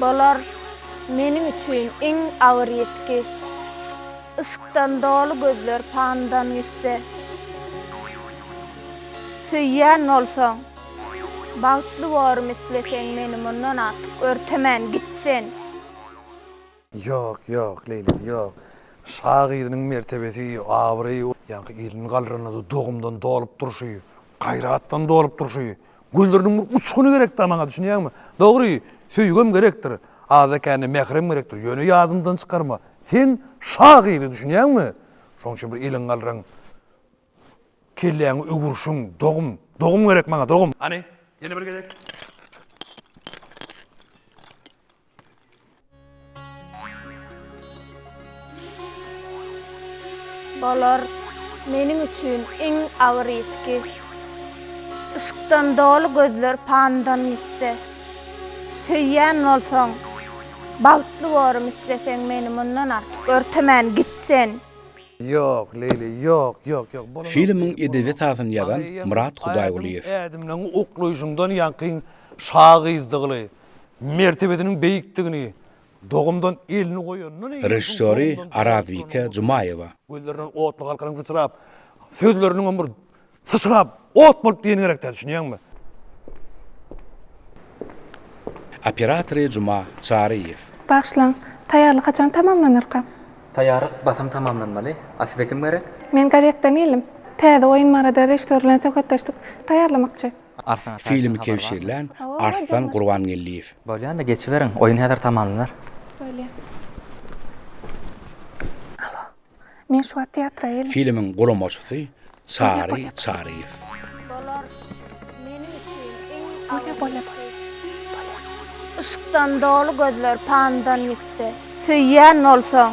Bolar meniň üçin iň agyr ýitgi, Yşkdan doly gözler pandan gitse. Söýýän bolsaň, bagtly borym isleseň, Meni mundan artyk örtemän git sen. Ýok, ýok, Leýli, ýok. Şa gyzynyň mertebesi, abraýy, ýaňky ilini galranynda dogumdan dolup durşy, gaýratdan dolup durşy, gözleriniň bir uçguny gerek-dä maňa, düşünýäňmi? Dogry, söýgem gerekdir, azda-kände mährem gerekdir, ýöne ýadyňdan çykarma, sen şa gyzy, düşünýäňmi? Şonuň üçin bir iliňi galraň, kelläňi öwürşiň, dogum, dogum gerek maňa, dogum! Hany, ýene bir gezek. Bolar meniň üçin iň agyr ýitgi. Yşkdan doly gözler pandan gitse. Söýýän bolsaň, bagtly borym isleseň meni mundan artyk örtemän git sen. Ýok, Leýli, ýok, ýok, ýok, bolanok. Filmiň edebi sazyny ýazan Myrat Hudaýgulyýew. Ädimleň uklaýşyňdan ýaňky şa gyzdygly, mertebesiniň beýikdigini dogumdan elini goýanyndan eýýäm Režissýory Arazbike Jumaýewa. Gözlerinden otly galkynyň syçrap, sözleriniňem bir syçrap, ot bolup diýeni gerek däl, düşünýäňmi? Operatory Juma Çaryýew. Bagyşlaň, taýýarlyk haçan tamamlanarka? Taýýarlyk basym tamamlanmaly. A size kim gerek? Men gazetden geldim. Täze oýun barada režissýor bilen söhbetdeşlik taýýarlamakçy. Filmi kebşirlän Arslan Gurbangeldiýew. Bolýa indi geçiberiň, oýun häzir tamamlanar. Bolýa. Alo. Men şu wagt teatra geldim. Filmiň guramaçysy Çary Çaryýew. Bolar. Meniň üçin iň Bolýa, bolýa, bolýa. Bolýa. Yşkdan doly gözler pandan ýitdi. Söýýän bolsaň.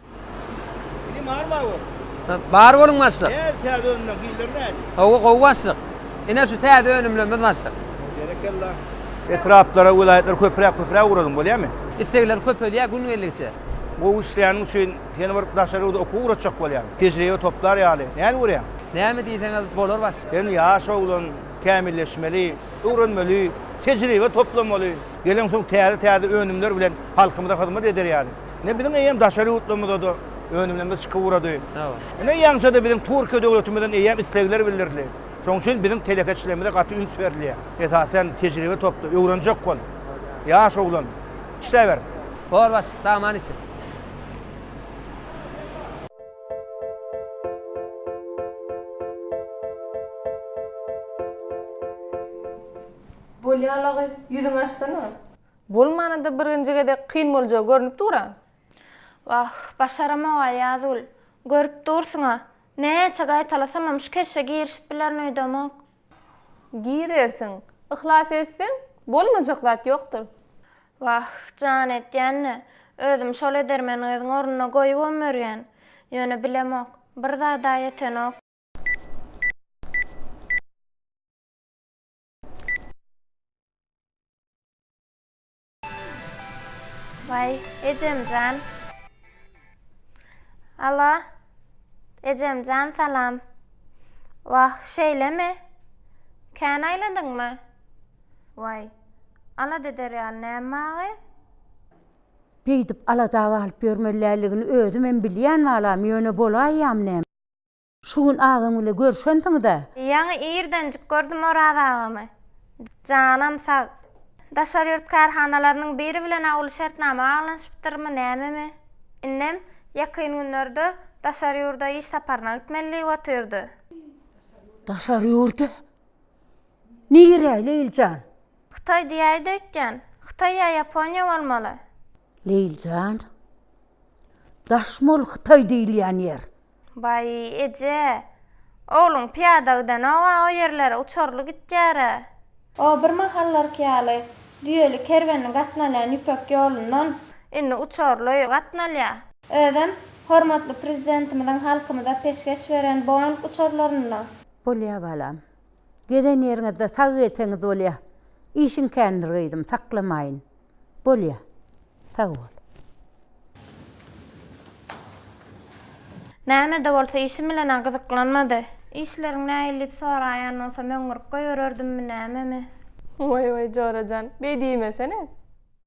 Inim bar bar bol. Bar boluň başlyk. Näz täze önümler hilleri näz. Gowy gowy başlyk. Ine şu täze önümlerimiz başlyk. Berekella. Etraplara welaýatlara köpräk köpräk ugradyň bolýamy. Islegler köpelýär gün geldigiçe. Gowy işleýäniň üçin seni bir daşary ýurda okuwa ugratjak bolýan. Tejribe toplar ýaly. Näme görýäň? Näme diýseňiz bolar başlyk. Sen ýaş oglan, kämilleşmeli, öwrenmeli, tejribe toplamaly. Geleňsoň täze täze önümler bilen halkymyza hyzmat eder ýaly. Ine biziň eýýäm daşary ýurtlarymyzada önümlerimiz çykyp ugrady. Hawa. Ine ýaňyja-da biziň Türkiýe döwletimizden eýýäm islegler bildirildi. Şonuň üçin biziň telekeçilerimize gaty üns berilýär. Esasan tejribe topla, öwrenjek bol. Ýaş oglan, işläber. Bor baş, daman işi. Bolýa lagy, ýüzüňi açsana. Bolmana-da birinji gezek kyn boljagy görnüp dur-a. Wah, başaramog-a, Ýazgül. Görüp dursuň-a. Näçe gaýtalasamam şu keşbe girişip bilerin öýdemok. Girersiň. Yhlas etseň, bolmajak zat ýokdur. Wah, jan edýän-de, özüm şol edermeni gyzyň ornuna goýubam ýörýän. Ýöne bilemok. Bir zad-a ýetenok. Vay Ecemcan. Alo. Ecemcan salam. Vah şeýlemi? Kän aýladyňmy? Vay. Alada eder ýaly näme maňa? Beýdip alada galyp ýörmeliligini özümem bilýän balam, ýöne bolaýýam näme? Şu gün agam bile görşensiňiz-ä? Ýaňy irdenjik gördüm Oraz agamy. Janam sag. Daşary ýurt kärhanalarynyň biri bilen awuly şertnama baglanyşypdyrmy, nämemi? Innem ýakyn günlerde daşary ýurda iş saparyna gitmeli diýip otyrdy. Daşary ýurda? Nirä, Leýlijan? Hytaý diýäýdi öýtýän. Hytaý ýa Ýaponiýa bolmaly. Leýli jan, daş mol hytaý diýilýän ýer. Baý, eje, ogluň pyýada gidenoga o ýerlere uçurly gitýär-ä. O bir mahallarky ýaly düýeli kerwenli gatnalýan ýüpek ýolundan. Indi uçurly gatnalýa. Özem hormatly Prezidentimiziň halkymyza peşgeş beren Boeing uçurlarynda. Bolýa balam. Gezen ýeriňizde sag gezseňiz bolýa. Işiň kändir gyzym, saklamaýyn. Bolýa. Sag bol. Näme-de bolsa işim bilen-ä gyzyklanmady. Işleriň nähili diýip soraýan bolsam, öňňürip goýbererdimmi, nämemi? Waý-waý, Jora jan, beý diýmesene!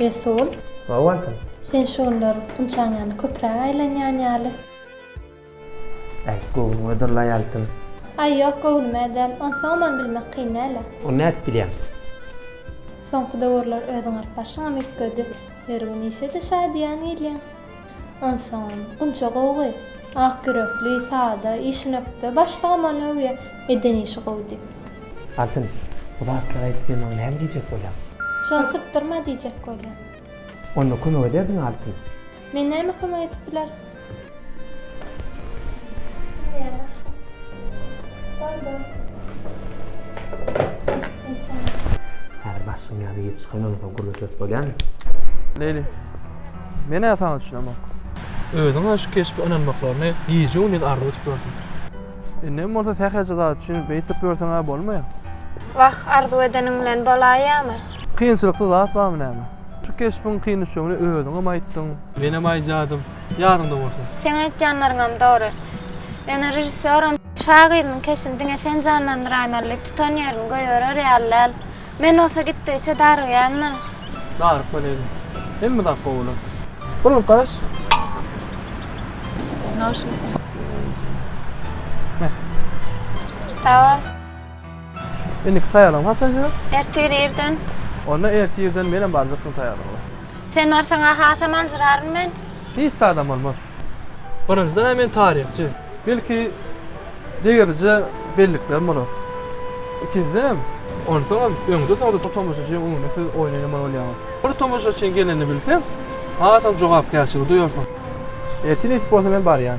Resul. Hawa wagtym. Sen şu günler ynçaň ýaly köpräk aýlanýan ýaly. Äýt göwnüňe durlaý altyn. Aý ýok göwnüme däl. Onsoňam bilmek kyn däl-ä. Ony nädip bilýäň? Soňky döwürler özüň alyp barşyňam üýtgedi. Her gün işe-de şadyýan gelýäň. Ynsan, gunça gowgy. Ak ýürekli, sada, işinökde. Başlygam ony öwýä. Eden işi gowy diýip. Altyn, bu zatlary aýtdy maňa näme diýjek bolýaň? Şony sypdyrma diýjek bolýan. Onda kömek ederdiň Altyn. Men näme kömek edip bilerin? Bar, bar. Häzir başlygyň ýanyna girip çykan ondan soň gürleşeris bolýamy? Leýli. Men-ä saňa düşünemok. Özüň-ä şu keşbe ynanmaklaryny gije-gündiz arzuw edip ýörsüň. Indem bolsa sähelçe zat üçin beýtip ýörseň-ä bolmaýar. Wah, arzuw edeniň bilen bolaýýamy? Kynçylykly zat barmy näme? Şu keşbiň kyn düşjegini özüňem aýtdyň. Menem aýdýardym, ýadyňda bolsa. Seň aýtýanlaryňam dogry. Ýöne režissýoram. Şagyryň keşini diňe sen janlandyraýmaly diýip tutan ýerini goýberer ýaly däl. Men bolsa gitdigiçe darygýan-da. Daryp boleli. Hemme zat gowy bolar. Bir urup garaş. Noşumy sen? Sag bol. Indiki taýýarlygyňy haçan edýäs? Ertir irden. Onda ertir irden menem barjak şuň taýýarlygyna. Sen barsaň-a hasam aljyraryn men. Hiç zadam bolmaz. Birinjiden-ä men taryhçy. Belki, degerije belliklerim bolar. Ikinjidenem, onsoňam öňde-soňda bu tomaşaçynyň öňünde siz oýnaýamaly bolýaňyz. Bir tomaşaçyň gelenini bilseň, hasam jogapkärçiligi duýarsyň. Ertir nesip bolsa men barýan.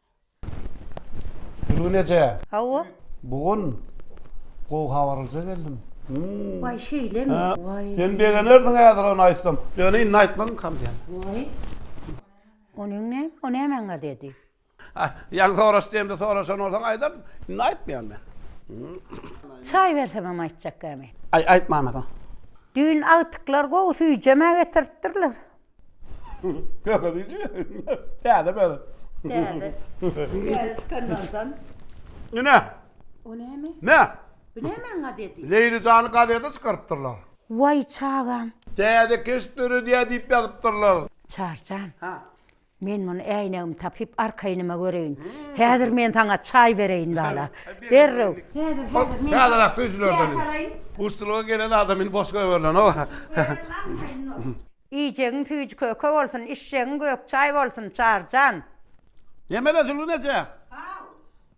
Gülgün eje. Hawa. Bu gün gowy habaryja geldim. Waý şeýlemi? Waý. Sen begenerdiň häzir ony aýtsam. Ýöne indi aýtmagyn kam diýen. Waý. Onyň ne? O näme aňa dedi? Ah, ýaňy soraş diýemde soraşan bolsaň aýdardym. Indi aýtmaýan men. Çaý bersemem aýtjak gämi. Aý, aýtmana soň. Düýn agtyklar gowy süýjemä getiripdirler. Ýöne diýji. Täze bäri. Täze. Täze çykanlardan. Ine. O näme? Ne? Bu nämeň gazeti? Leýli jany gazeti çykarypdyrlar. Waý çagam. Täze keşp döredýär diýip ýazypdyrlar. Çarjan. Ha. Men muny äýnegimi tapyp arkaýnyma göreýin. Häzir men saňa çaý bereýin bala. Derrew. Häzir häzir men. Täzeräk süýjülerden. Guşçulyga gelen adam indi boş goýberilenoga. Iýjegiň süýji köke bolsun, içjegiň gök çaý bolsun, Çary jan! Nemele Zülgün eje? Haw.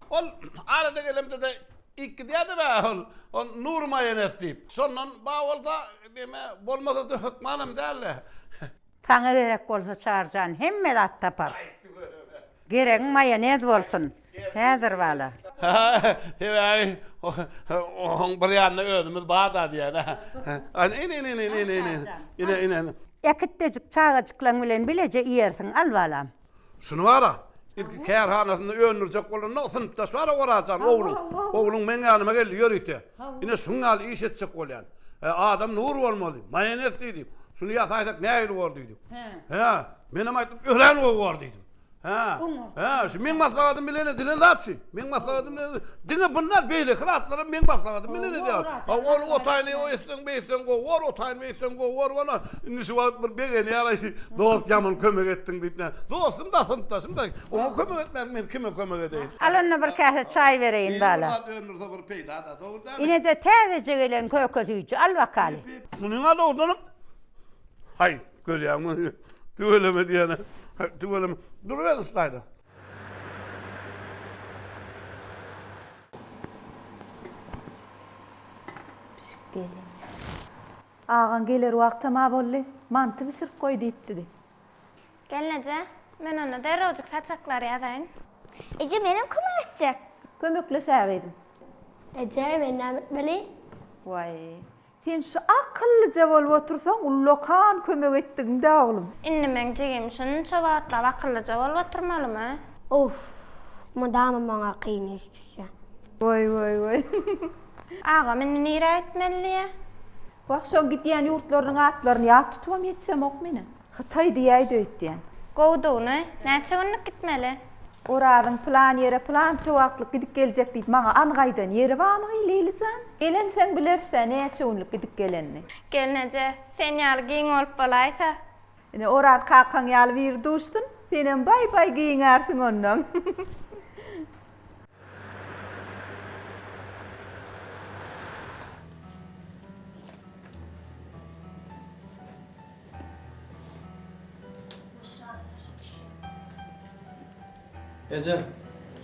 Ol arada gelemde-de iýip gidýärdi-le ol, ol Nury maýonez diýip. Şondan bar bolsa, näme, bolmasa-da hökmanam däl-le. Saňa gerek bolsa Çary jan, hemme zat taparys. Geregiň maýonez bolsun. Häzir bala. Sebäbi oň bir ýanynda özümiz bar-da diýýän. Ine-ine-ine-ine-ine-ine-ine. Äkitdejik çagajyklaň bilen bileje iýersiň, al balam. Şuny bar-a, ilki kärhanasynda öndürjek bolanda, synpdaş bar-a Oraz jan, ogluň. Ogluň meň ýanyma geldi, ýörite. Ine şuň ýaly iş etjek bolýan. Adam nur bolmaly. Maýonez diýdi. Şuny ýasaýsak nähili bor diýdi. Hä, menem aýtdym, örän gowy bor diýdim. Hä. Hä, şu meň maslahatym bilen edilen zat şu. Meň maslahatym bilen. Diňe bundan beýleki zatlar hem meň maslahatym bilen edýär. Ha, ol otaýyny o etseň, bu etseň gowy bor, otaýyny bu etseň gowy bor bolar. Indi şu wagt bir begenýär-aý, şu dost ýaman kömek etdiň diýip näme. Dostum-da, synpdaşym-da. Oňa kömek etmärik, men kime kömek edeýin. Al onda bir käse çaý bereýin bala. Ýeri bir zat öndürse bir peýda-da, dogry dälmi? Ine-de täzeje gelen köke süýji, al bakaly. Munyň-a dogrudanam, haý. Görýäňmi? Tüweleme diýýän-ä. Tüweleme. Duruber üstaýda. Pişik gelin. Agaň geler wagtam-a boldy. Manty bişirip goý diýipdidi. Gelneje, men onda derrewjik saçaklary ýazaýyn. Eje, menem kömek etjek. Kömekleşäýeliň. Eje, men näme etmeli? Waý, Sen şu akyllyja bolup otursaň ullakan kömek etdigiňdä oglum. Indi meň jigim şunça wagtlap akyllyja bolup oturmalymy? Uff, mydama maňa kyn iş düşýä. Woý woý woý. Agam indi nirä gitmelidiýä? Wah şoň gidýän ýurtlarynyň atlaryny ýat tutubam ýetişemok menem. Hytaý diýäýdi öýtýän. Gowudygyny, näçe günlük gitmeli? Orazyň pylan ýere pylança wagtlyk gidip geljek diýip maňa anyk aýdan ýeri barmy, Leýli jan? Gelensoň bileris-ä, näçe günlük gidip gelenini. Gelin eje, sen ýaly giň bolup bolaýsa. Ine, Oraz kakaň ýaly biri duşsun, senem baý-baý giňärsiň onnoň. Eje,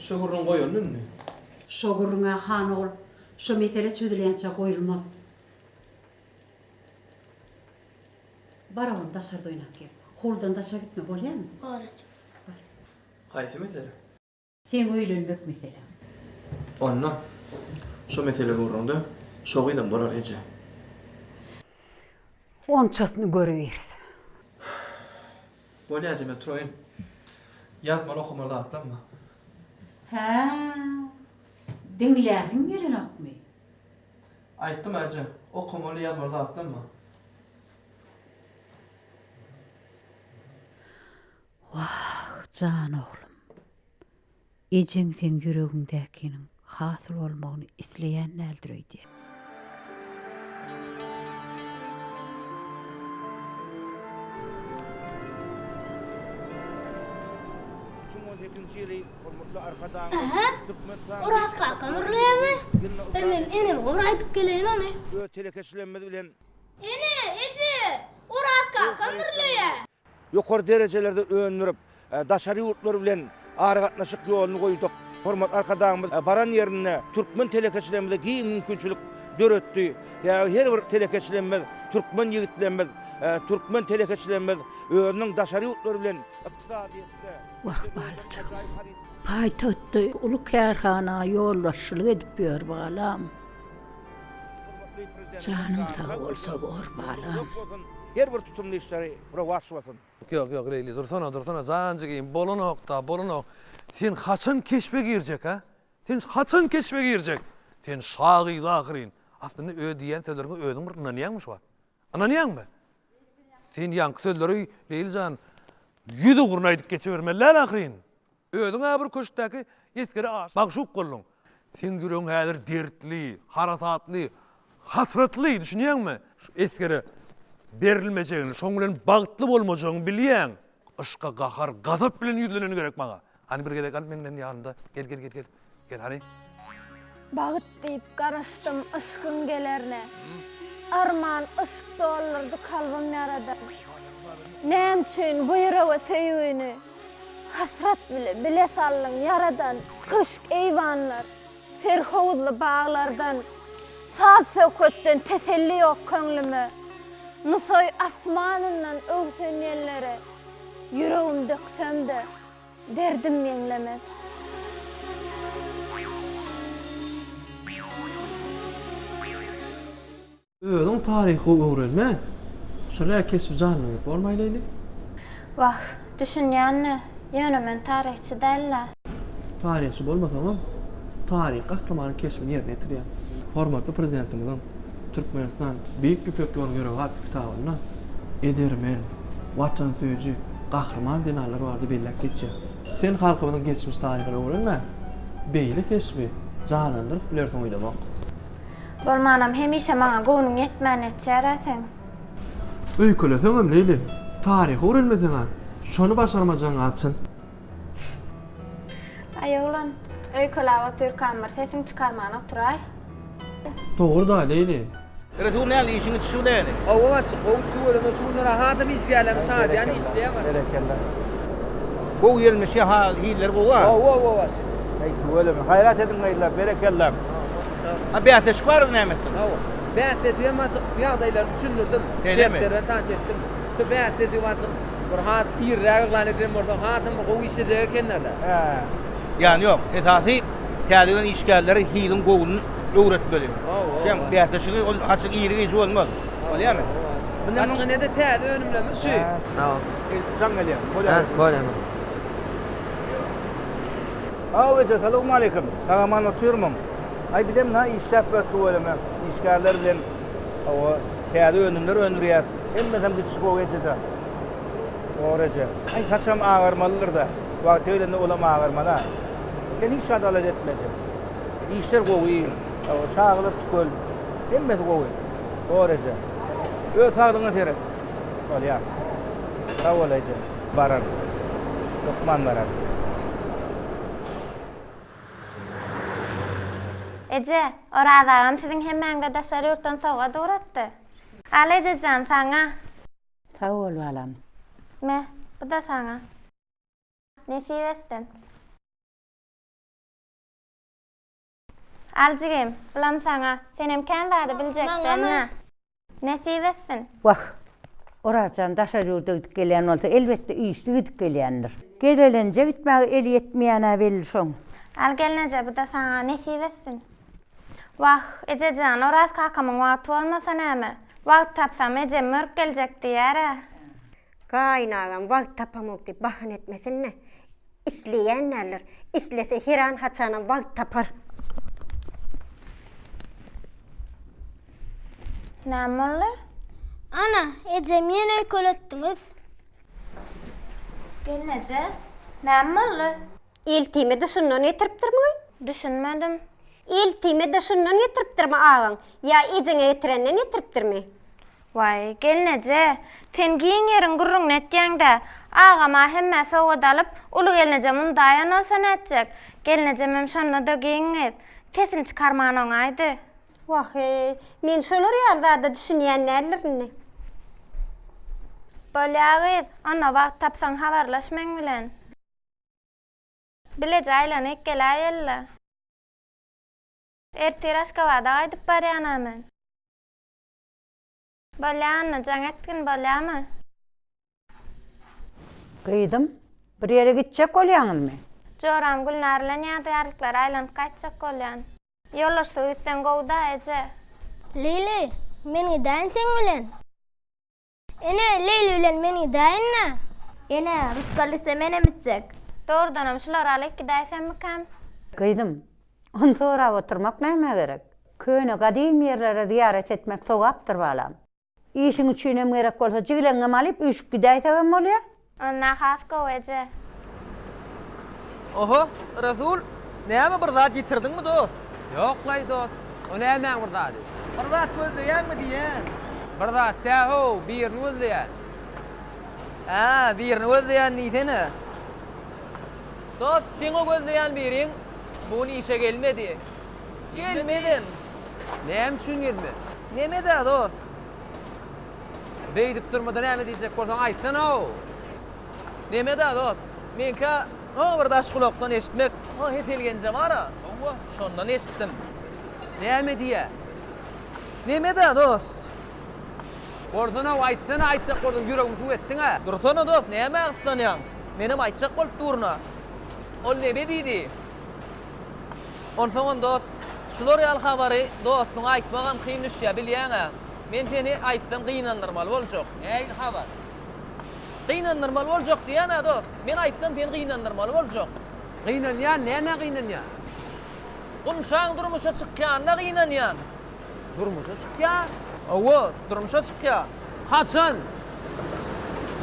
şo gürrüň goýaldy indi. Şo gürrüň-ä, han ogul, şo mesele çözülýänçä goýulmaz. Bar oglum, daşarda oýnap gel. Howludan daşa gitme, bolýamy? Bor, eje. Haýsy mesele? Seň öýlenmek meseläň. Onda şo mesele ugrunda şogyzam bolar eje. Onçasyny görübiris. Bolýa eje men turaýyn. Ýazmaly okamaly zatlam bar. Hä. Diňläsiň gelenokmy? Aýtdym eje, okamaly ýazmaly zatlam bar. Wah, jan oglum! Ejeň seň ýüregiňdäkiniň hasyl bolmagyny isleýän däldir öýdýän. Iki müň on sekizinji ýyly hormatly Arkadagymyz Türkmenistanyň Oraz kakam urlaýarmy? Ýa men eneme bir aýdyp geleýin ony. Öz telekeçiligimiz bilen. Ene, eje! Oraz kakam urlaýar. Ýokary derejelerde öndürip, daşary ýurtlar bilen aragatnaşyk ýoluny goýduk. Hormatly Arkadagymyz baran ýerinde türkmen telekeçilerimize giň mümkinçilik döretdi. Sebäbi her bir telekeçilerimiz, türkmen ýigitlerimiz, türkmen telekeçilerimiz özüniň daşary ýurtlar bilen ykdysadyýetde, Wah, balajygym. Paýtagtda uly kärhana ýolbaşçylyk edip ýör, balam. Hormatly Prezidentimiz Janyň sag bolsa bor balam. Her bir tutumly işleri rowaç bolsun. Ýok ýok Leýli dursana dursana jan jigim bolanokda bolanok sen haçan keşbe girjek a sen haçan keşbe girjek sen şa gyz ahyryn aslynda öz diýýän sözleriňe özüň bir ynanýaňmy şu wagt ynanýaňmy sen ýaňky sözleri Leýli jan ýüz ugruna aýdyp geçibermeli däl ahyryn Özüň-ä bir köşkdäki esgere magşuk bolduň. Seň ýüregiň häzir dertli, harasatly, hasratly, düşünýäňmi? Şu esgere berilmejegini, şoň bilen bagtly bolmajagyňy bilýäň. Yşka gahar, gazap bilen ýüzleneni gerek maňa. Hany bir gezek al meňden ýanynda, gel, gel, gel, gel. Gel hany. Bagt diýip garaşdym yşkyň gelerine. Arman yşk doldurdy kalbym ýaradan. Näme üçin bu ýürege söýgini hasrat bile bile saldyň ýaradan. Köşk eýwanlar, serhowuzly baglardan, saz-söhbetden teselli ýok köňlüme. Nusaý asmanyndan öwsen ýellere, ýüregim döksem-de, Derdim meňlemez. Özüň taryhy gowy öwrenme. Şular keşbi janlandyryp bolmaý Leýli. Wah, düşünýän-le, ýöne men taryhçy däl-le. Taryhçy bolmasaňam, taryhy gahrymanyň keşbini ýerine ýetirýäň. Hormatly Prezidentimiziň Türkmenistan, Beýik Ýüpek ýoluň ýüregatdy kitabynda edermen, watansöýüji, gahryman zenanlar barada belläp geçýär. Sen halkymyzyň geçmiş taryhyny öwrenmän, beýle keşbi janlandyryp bilersiň oýlamok. Bolmanam hemişe maňa göwnüň ýetmän etýär-ä seň. Öýkeleseňem, Leýli, taryhy öwrenmeseň-ä, şony başarmajagyň-a çyn. Aý oglan, öýkelap otyrkam bir sesiň çykarman oturaý. Dogry-da, Leýli. Resul näme işiň it şu leýli. Hawa başlyk gowy tüweleme şu günler ahadam iş gelem şadyýan işleýän başlyk. Berekella. Gowy gelmiş ýa-ha hilleri gowy a. Gowy gowy başlyk. Heý tüweleme gaýrat ediň gyzlar berekella. A bäsleşik bardy näme etdiň. Hawa bäsleşigem başlyk ýagdaýlary düşündirdim. Şeýlemi. Şertleri bilen tanyş etdim. Şu bäsleşigi başyk bir has irräk yglan edilen bolsa hasam bir gowy işlejek ekenlerle. Hä. Ýan ýok. Esasy täze gelen işgärleri hiliň gowuny öwretmeli. Şem bäsleşigi ol açyk iri gijä bolmaz. Bolýamy? Başga nede täze önümlerimiz şu. Sag ol. Jaň gelýär. Bolýar. Bolýar. Saw eje salowmaleýkim. Sag-aman otyrmyň? Aý bizem na işläp ýör tüweleme işgärler bilen. Hawa, täze önümler öndürýäs. Hemmesem düşüş gowy ejejan. Dogry eje. Aý, saçam agarmalydyr-da. Wagty gelende olam agarman-a. Sen hiç zat alada etme eje. Işler gowy. Hawa, çagalar tükel. Hemmesi gowy. Dogry eje. Öz saglygyňa seret. Bolýar. Sag bol eje. Bararyn. Hökman bararyn. Eje, Oraz agam siziň hemmäňize daşary ýurtdan sowgat ugratdy. Al ejejan, saňa. Sag bol balam. Me, bu-da saňa. Nesip etsin. Al jigim, bulam saňa. Senem kän zady biljekdäň-ä. Nesip etsin! Wah! Orazjan daşary ýurda gidip gelýän bolsa, elbetde, işli gidip gelýändir. Gezelenje gitmäge eli ýetmeýän-ä belli şoň. Al gelneje, bu-da saňa nesip etsin! Wah, eje jan, Oraz kakamyň wagty bolmasa näme? Wagt tapsam, ejem mörk geljek diýýär-ä. Gaýynagam wagt tapamok diýip bahana etmesin-le. Isleýän däldir. Islese heran haçanam wagt tapar. Näme boldy? Ana, ejem ýene öýkeletdiňiz. Gelneje, näme boldy? Eltime dyşyndan getiripdirmi? Düşünmedim. Eltime dyşyndan getiripdirmi agaň? Ýa ejeňe getirenden getiripdirmi? Waý, gelneje, sen giň ýeriň gürrüňini etýäň-dä. Agam-a hemmä sowgat alyp, uly gelneje mundaýan bolsa nätjek? Gelnejemem şonda-da giň gyz. Sesini çykarman oňaýdy. Wah-eý, men şolar ýaly zada düşünýän däldir indi. Bolýa gyz, onda wagt tapsaň habarlaş meň bilen. Bileje aýlanyp geläýeli-le. Ertir Aşgabada gaýdyp barýan-a men. Bolýamy, jaň etgin bolýamy? Gyzym, bir ýere gitjek bolýaňyzmy? Joram Gülnar bilen ýadygärliklere aýlanyp gaýtjak bolýan. Ýoldaşlyk etseň gowy-da, eje. Leýli, men gidäýin seň bilen. Ene, Leýli bilen men gidäýin-dä. Ene, rysgal etse menem gitjek. Dogrudanam şulary alyp gidäýsemmikäm? Gyzym, Ony sorap oturmak nämä gerek? Köne gadymy ýerlere zyýarat etmek sogapdyr balam. Işiň üçinem gerek bolsa jigleňňem alyp üýşüp gidäýsegem bolýa. Onda has gowy eje. Oho, Rasul, näme bir zat ýitirdiňmi dost? Ýoklaý dost, o nämäň bir zady? Bir zat gözleýäňmi diýýän. Bir zat dä-how, birini gözleýän. Hä, birini gözleýän diýsene. Dost, seň o gözleýän biriň Bu gün işe gelmedi. Gelmedin. Näme üçin gelmedi? Nemedä dost? Beýdip durmada näme diýjek bolsaň aýtsana-ow. Nemedä dost? Meňkä o bir daş gulakdan eşitmek, o Hesel genje bar-a, şondan eşitdim. Näme diýýä? Nemedä dost? Bolsun-ow, aýtsana, aýtjak bolsaň, ýüregimi suw etdiň-ä. Dursana dost, nämä gyssanýaň? Menem aýtjak bolup durun-a. Ol nebsi diýdi. Onsoňam dost, şular ýaly habary dostuňa aýtmagam kyn düşýär, bilýäň-ä. Men seni aýtsam gynandyrmaly boljak. Nähili habar? Gynandyrmaly boljak diýýän-ä dost. Men aýtsam seni gynandyrmaly boljak. Gynanýan, nämä gynanýan? Gumşaň durmuşa çykýanyna gynanýan. Durmuşa çykýar. Hawa, durmuşa çykýar. Haçan?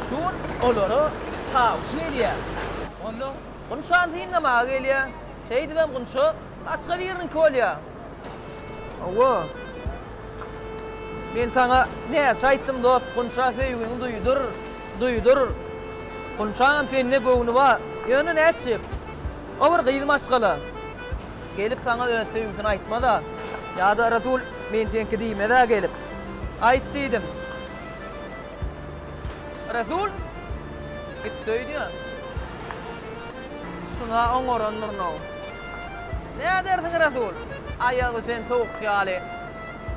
Şu gün olara çawçy gelýär. Onda? Gunçany synlamaga gelýär. Şeýdibem Gunça başga biriniňki bolýar. Hawa. Men saňa näçe aýtdym, dost, Gunça söýgiňi duýdur, duýdur. Gunçanyň sende göwni bar. Ýöne nätjek? O bir gyz maşgala. Gelip saňa öz söýgüsini aýtmaz-a. Ýa-da Resul men seňki diýmez-ä gelip. Aýt diýdim. Resul gitdi öýdýän. Şuna oňarandyryn-ow. Nädersiň Resul? Aýagy şen towuk ýaly.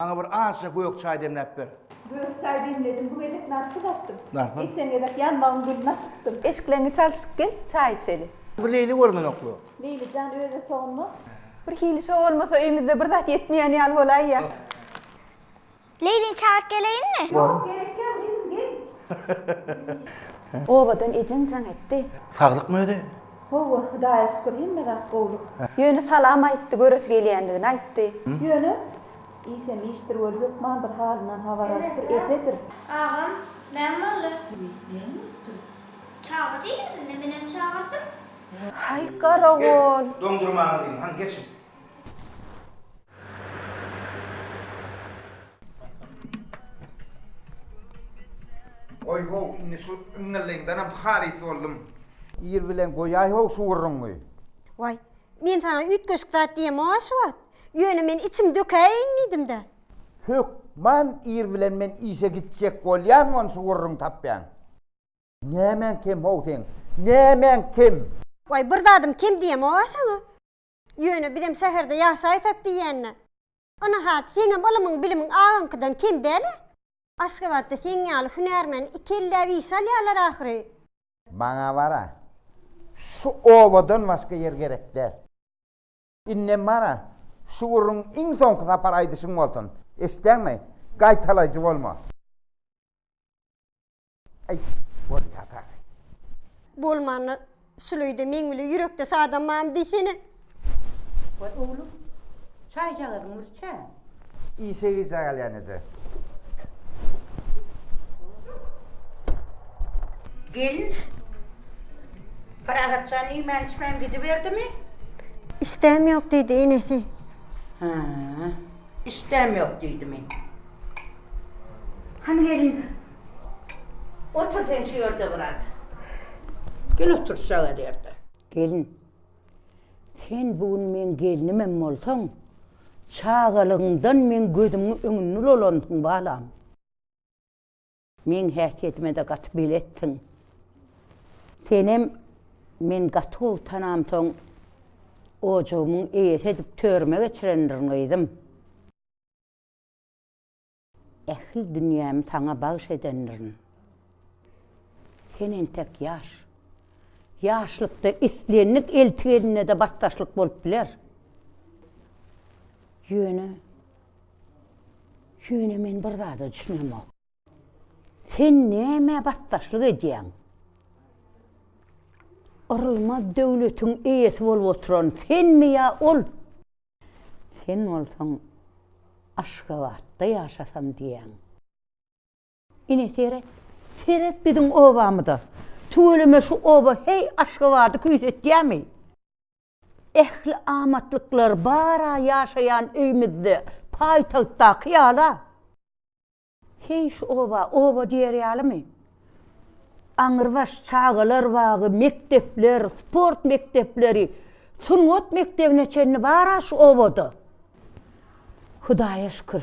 Maňa bir azja gök çaý demläp ber. Gök çaý demledim, bu gezek narpyz atdym. Narpyz? Geçen gezek ýanbagyň gülüni atdypdym. Eşikleňi çalşyp gel, çaý içeli. Bu Leýli görmenokmy? Leýli jan öz otagyňda. Bir hili şo bolmasa öýmüzde bir zat ýetmeýän ýaly bolaýýa. Leýlini çagyryp geleýinmi? Ýok, gerek ýok, özüň gel. Obadan ejeň jaň etdi. Saglykmy özi? Howwa Hudaýa şükür hemme zat gowluk. Ýöne salam aýtdy göresi gelýändigini aýtdy. Ýöne işem işdir welin hökman bir halyndan habar alypdyr ejedir. Agam näme boldy. Näme bolupdyr. Çagyr diýýärdi indi menem çagyrdym. Haý garagol. Doňdurmaňyz iň han geçiň. Oý-how, indi şu iňňilligiňdenem halys boldum. Ir bilen goýaý-how şu gürrüňi. Waý, men saňa üýtgeşik zat diýemok-a şu wagt. Ýöne men içimi dökäýeýin diýdim-dä. Hökman ir bilen men işe gitjek bolýan ony şu gürrüňi tapýan. Nämäň kem-how seň? Nämäň kem? Waý, bir zadym kem diýemok-a saňa. Ýöne bizem şäherde ýaşaýsak diýýän-dä. Ynahat, seňem ylymyň-bilimiň agaňkydan kem däl-ä? Aşgabatda seň ýaly hünärmeni iki elläp işe alýarlar ahyry. Maňa bar-a, şu obadan başga ýer gerek däl. Indem bar-a, şu gürrüň iň soňky sapar aýdyşyň bolsun, eşitdäňmi? Gaýtalaýjy bolma. Aý, bolýar dagy. Bolmanda, şuleýde meň bile ýürekdeş adamam diýsene. Boý, oglum, çaýjagazyň bir içä. Işe gijä galýan eje. Gelin, Parahat jan iýmän-içmän gidiberdimi? Işdäm ýok diýdi, enesi. Hä, işdäm ýok diýdimi? Hany gelin, Otur sen şu ýerde biraz. Gel otur şu çaga derdi. Gelin, sen bu gün meň gelnimem bolsaň, çagalygyňdan meň gözümiň öňünde dolandyň balam. Meň häsiýetime-de gaty beletdiň. Senem men gaty gowy tanamsoň, ojagymyň eýesi edip törüme geçirendirin gyzym. Ähli dünýämi saňa bagyş edendirin. Sen entek ýaş. Ýaşlykda islendik elti eline-de batdaşlyk bolup biler. Ýöne, ýöne men bir zada düşünemok. Sen nämä batdaşlyk edýäň? Yrylmaz döwletiň eýesi bolup oturan senmi ýa ol? Sen bolsaň Aşgabatda ýaşasam diýýäň. Ine seret, seret biziň obamyza. Tüweleme şu oba heý Aşgabady küýsetýärmi? Ähli amatlyklar bar-a ýaşaýan öýümizde, paýtagtdaky ýala. Heý, şu oba oba diýer ýalymy? Aňyrbaş çagalar bagy, mekdepler, sport mekdepleri, sungat mekdebine çenli bar-a şu obada. Hudaýa şükür,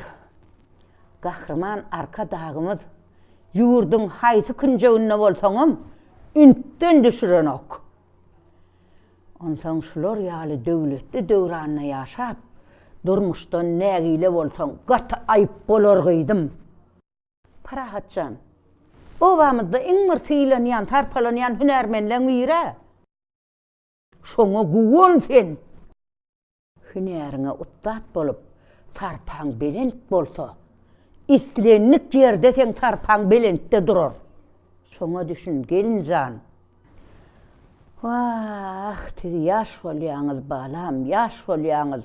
Gahryman Arkadagymyz ýurduň haýsy künjeginde bolsaňam ünsden düşürenok. Onsoň şular ýaly döwletli döwranda ýaşap, durmuşdan nägile bolsaň, gaty aýyp bolar gyzym. Parahat jan, obamyzda iň bir sylanýan, sarpalanýan hünärmenleň biri-ä. Şoňa guwan sen! Hünäriňe ussat bolup, sarpaň belent bolsa, islendik ýerde seň sarpaň belentde durar. Şoňa düşün, gelin jan! Wah, siz ýaş bolýaňyz, balam, ýaş bolýaňyz!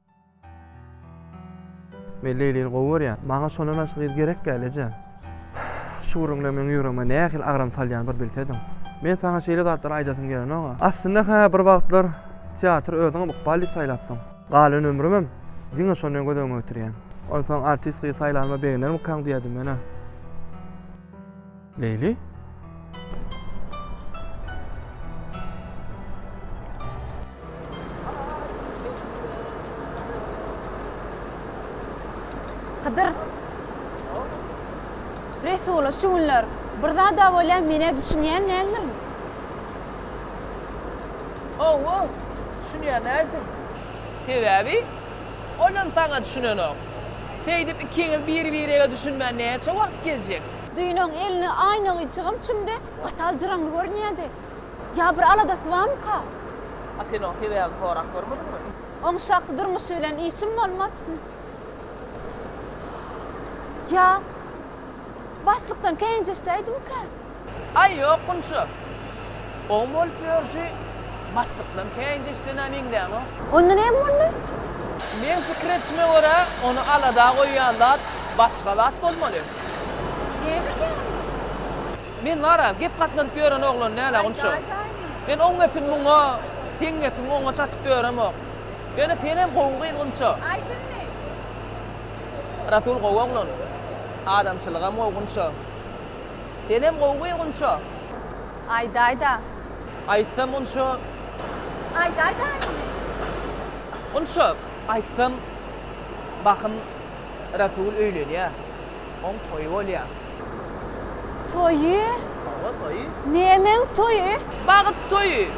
Men Leýlini gowy görýän. Maňa şondan başga gyz gerek däl, eje. Şu gürrüňler meň ýüregime nähili agram salýan bir bilsediň. Men saňa şeýle zatlary aýdasym gelenok-a. Aslynda, hä, bir wagtlar teatry özüňem ykbal diýip saýlapsyň. Galan ömrümem diňe şony göz öňüne getirýän. Onsoň artist gyz saýlanyma begenermikaň diýýärdim men-ä. Leýli. Hydyr. Resula şu günler bir zada bolýan menä düşünýän näme? Owo, düşünýän näme? Sebäbi olam saňa düşünenok. Şeýdip ikiňiz bir-birege düşünmän näçe wagt gezjek? Düýnoň elini aýna gyýçygam çümdi, gatal jyraňly görünýärdi. Ýa bir aladasy barmyka? A sen oň sebäbini sorap görmediňmi? Oň şahsy durmuşy bilen işim bolmaz. Ýa başlykdan känjeşdäýdimikä? Aý, ýok, Gunça. Oň bolup ýörşi başlykdan käýinç eşidenä meňzänok. Onda näme boldy? Meň pikir edişime görä, ony alada goýýan zat başga zat bolmaly. Näme diýýäňiz? Men bar-a, gep gatlanyp ýören oglan däl-ä onça. Men oň gepini muňa, seň gepiňi oňa çatyp ýöremok. Ýöne senem gowy gyzgynça. Aýt indi! Rasul gowy oglan. Adamçylygam gowgynça. Senem gowmy Gunça? Aýdaýda. Aýtsam Gunça. Aýdaýda indi. Gunça, aýtsam bahym Rasul öýlenýä. Oň toýy bolýa. Toýy? Hawa toýy. Nämäň toýy? Bagyt toýy,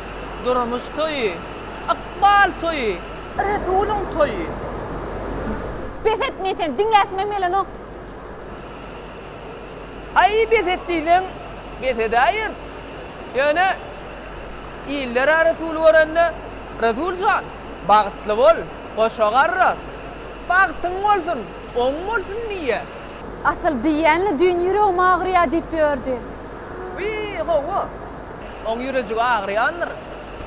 durmuş toýy, ykbal toýy, Resulyň toýy. Bes et men seni diňläsimem gelenok. Aý, bes et diýseň, bes edäýer. Ýöne illere resul görende, Resul jan, bagtly bol, goşa garra, bagtyň bolsun, oň bolsun diýýär. Asyl diýýän-le, düýn ýüregim agyrýar diýip ýördi. Wiý, hawa, oň ýürejigi agyrýandyr.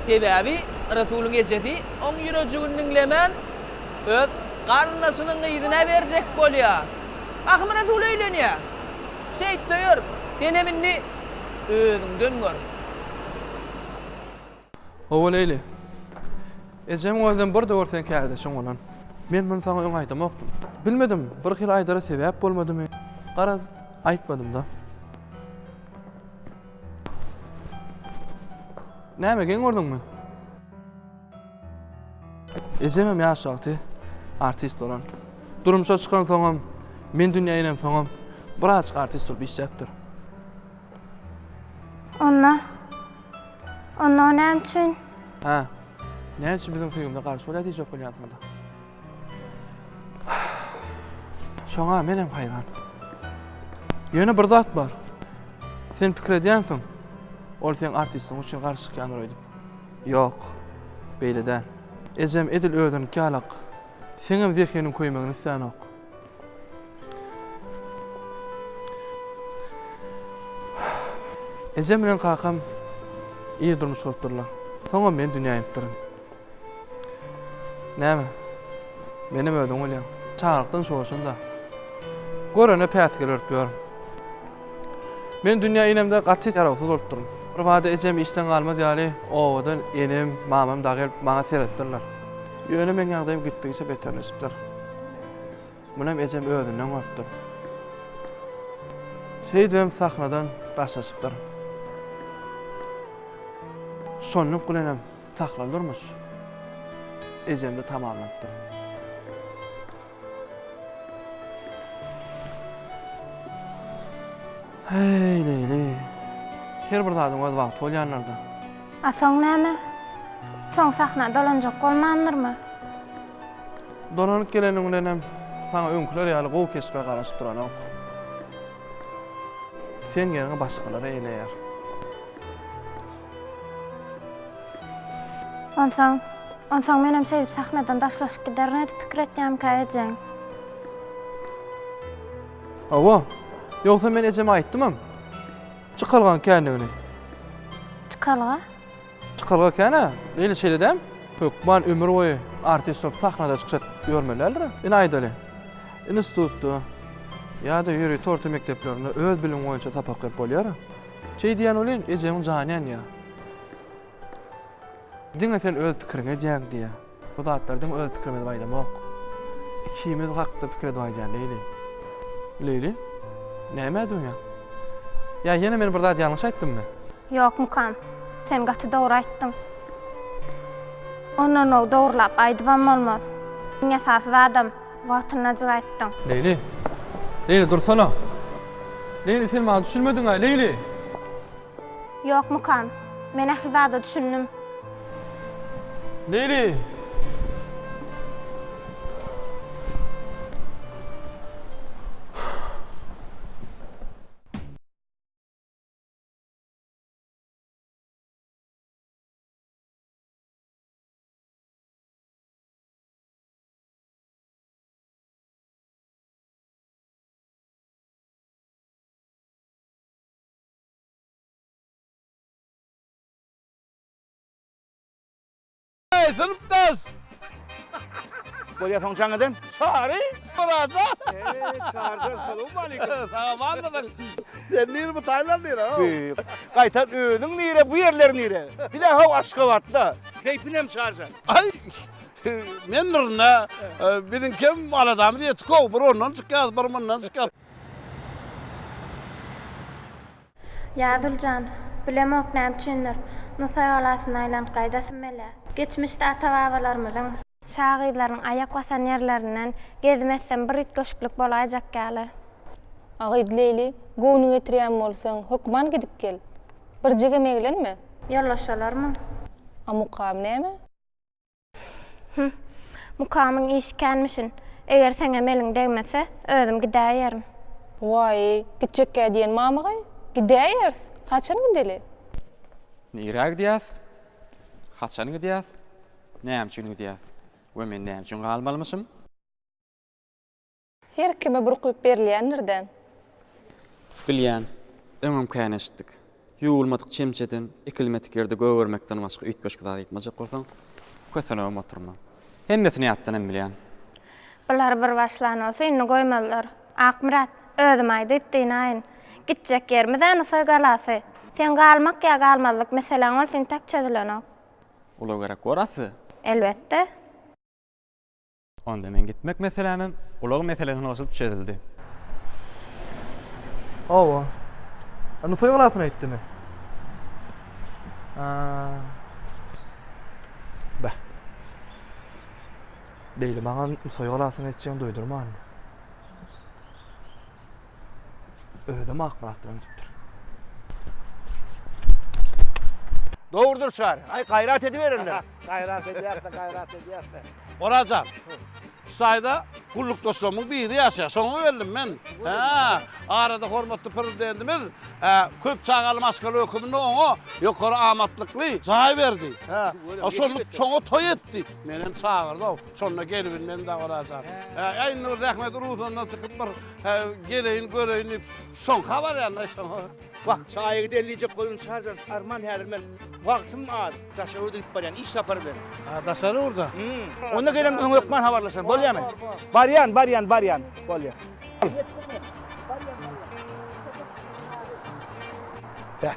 Sebäbi Resulyň ejesi oň ýürejigini diňlemän, öz garyndaşynyň gyzyna berjek bolýar. Ahmyrazul öýlenýär. Şeýt döýer. Denem indi özüňden gör. Hawa, Leýli. Ejemiň özem bir döwür seň kärdeşiň bolan. Men muny saňa öň aýdamokdym. Bilmedim, birhili aýdara sebäp bolmadymy, garaz, aýtmadym-da. Näme, geň gördüňmi? Ejemem ýaş wagty artist bolan. Durmuşa çykansoňam, men dünýä inemsoňam birazajyk artist bolup işläpdir. Onda, onda o näme üçin? Hä, näme üçin biziň söýgimize garşy bolýar diýjek bolýansyňda? Şoňa menem haýran. Ýöne bir zat bar. Sen pikir edýänsiň, ol seň artistiň üçin garşy çykýandyr öýdüp. Ýok, beýle däl. Ejem edil özüniňki ýalak. Seňem zehiniň köýmegini islänok. Ejem bilen kakam ir durmuş gurup durlar. Soňam men dünýä inipdirin. Näme, menem özüň bolýaň. Çagalykdan şoşun-da. Görene päsgel örüp ýörün. Men dünýä inemde gaty ýarawsyz bolupdyryn. Birbada ejem işden galmaz ýaly obadan enem, mamam dagy gelip maňa seretdirler. Ýöne meň ýagdaýym gitdigiçe beterleşipdir. Munem ejem özünden gorkupdyr. Şeýdibem sahnadan daşlaşypdyr. Şonluk bilenem sahna durmuş ejemde tamamlanypdyr. Heý, leýli. Her bir zadyň öz wagty bolýanlardy. A soň näme? Soň sahna dolanjak bolmandyrmy? Dolanyp geleniň bilenem saňa öňküler ýaly gowy keşbe garaşyp duranok. Sen ýeriňi başgalar eýleýär. Onsoň, onsoň menem şeýdip sahnadan daşlaşyp giderin edip pikir etýämkä ejeň? Hawa, ýogsa men ejeme aýtdymam. Çykalgaň kändigini. Çykalga? Çykalga ekena eýle şeýle däm. Hökman ömür boýy artist bolup sahnada çykyş edip ýörmeli däldir. Ine aýdaly. Institutda ýa-da ýörite orta mekdeplerinde öz bilimiň boýunça sapak berip bolýar. Şeý diýýän welin, ejeňiň jany ýanýar. Diňe sen öz pikiriňi edýäň diýýär. Bu zatlardan öz pikirimizi baýdamok. Ikimiz hakda pikir edip aýdýan Leýli. Leýli, näme edýänsiň? Ýa ýene men bir zat ýalňyş aýtdymmy? Ýok mukam. Sen gaty dogry aýtdyň. Ondanw dogrylap aýdybam bolmaz. Iň esasy zadam wagtyndajyk aýtdyň. Leýli. Leýli dursana. Leýli sen maňa düşünmediňaý Leýli. Ýokmykan? Men ähli zada düşündim. Neýli? Eý, synpdaş! Bolýa soň jaň eden? Çary, Myratja! Eý, Çaryjan, salowmaleýkim! Salamatmysyň? Sen nir bu Taýland nire ho? Be, gaýtam özüň nire, bu ýerler nire? Bile ho Aşgabatda. Keýpinem Çaryjan? Aý, men nirn-ä. Biziňkem aladamyz ýetik ho, bir ondan çykýas, bir mundan çykýas. Ýazul jan, bilemok näme üçindir, Nusaý galasyna aýlanyp gaýdasym gelýär. Geçmişde ata-babalarymyzyň. Şagyzlaryň aýak basan ýerlerinden gezim etsem bir üýtgeşiklik bolaýjak ýaly. A gyz Leýli, göwnüňi getirýän bolsaň, hökman gidip gel. Birjigem eglenme. Ýollaşalarmyň? A mukam näme? Hüh, mukamyň işi känmişin. Eger seňem eliň degmese, özüm gidäýerin. Waý, gitjekkä diýen mamygaý? Gidäýeris. Haçan gideli? Nirä gidýäs? Haçan gidýäs? Näme üçin gidýäs? We men näme üçin galmalymyşym? Her kime burkulyp berilýändir-dä. Bilýän, öňem kän eşitdik. Ýuwulmadyk çemçeden, ekilmedik ýerde gögermekden başga üýtgeşik zat aýtmajak bolsaň, kösenibem oturma. Hemmesini ýatdanam bilýän. Bular bir başlan bolsa, indi goýmazlar. Akmyrat, özüm aýdyp dynaýyn. Gitjek ýerimiz-ä Nusaý galasy. Seň galmak ýa galmazlyk meseläň bolsa intäk çözülenok. Ulagerek bor-a size? Elbetde. Onda men gitmek meselämem ulag meselesine goşulyp çözüldi. Hawa. Indi toý galasyna gitdimi? Bah. Beýle maňa toý galasyna gitjegini duýdurmandy. Özüm Akmyrat bilen gidipdir. Dogrudyr çary. Aý gaýrat ediberin. Gaýrat edýäs-de, gaýrat edýäs-de. Oraz jan, şu taýda gullukdaşlarymyň biri ýaşaýar. Şoňa geldim men. Hä, arada hormatly Prezidentimiz köp çagaly maşgala hökmünde oňa ýokary amatlykly jaý berdi. Hä, şonda çoňa toý etdi. Meni hem çagyrdy-ow. Şonda gelibilmedim-de Oraz jan. Hä, indi bir zähmet uruzyndan çykyp bir geleýin, göreýin diýip, şoňka barýan-da, şoňa. Wah, çaýa gideýin diýjek boldum, Çarjan, arman häzir men wagtym az, daşary ýurda gidip barýan, iş sapary bilen. Ha, daşary ýurda? Hum. Onda gelem öň hökman habarlaşan, bolýamy? Barýan, barýan, barýan, bolýar. Barýan, barýan. Heh.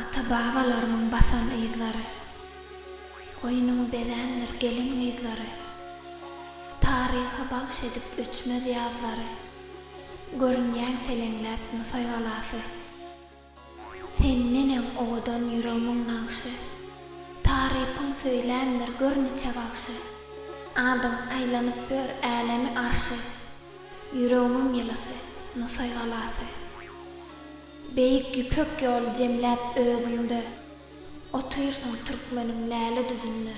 Ata-babalarymyň basan yzlary. Goýnuň bezändir gelin-gyzlary. Taryha bagş edip öçmez ýazlary. Görünýäň seleňläp Nusaý galasy. Sen neneň owadan ýüregmiň nagşy, Tarypyň söýlämdir gör niçe bagşy. Adyň aýlanyp ör älemi arşy, Ýüregmiň ýylysy, Nusaý galasy. Beýik Ýüpek ýoly jemläp özüňde, Otyrsyň türkmeniň läle düzünde.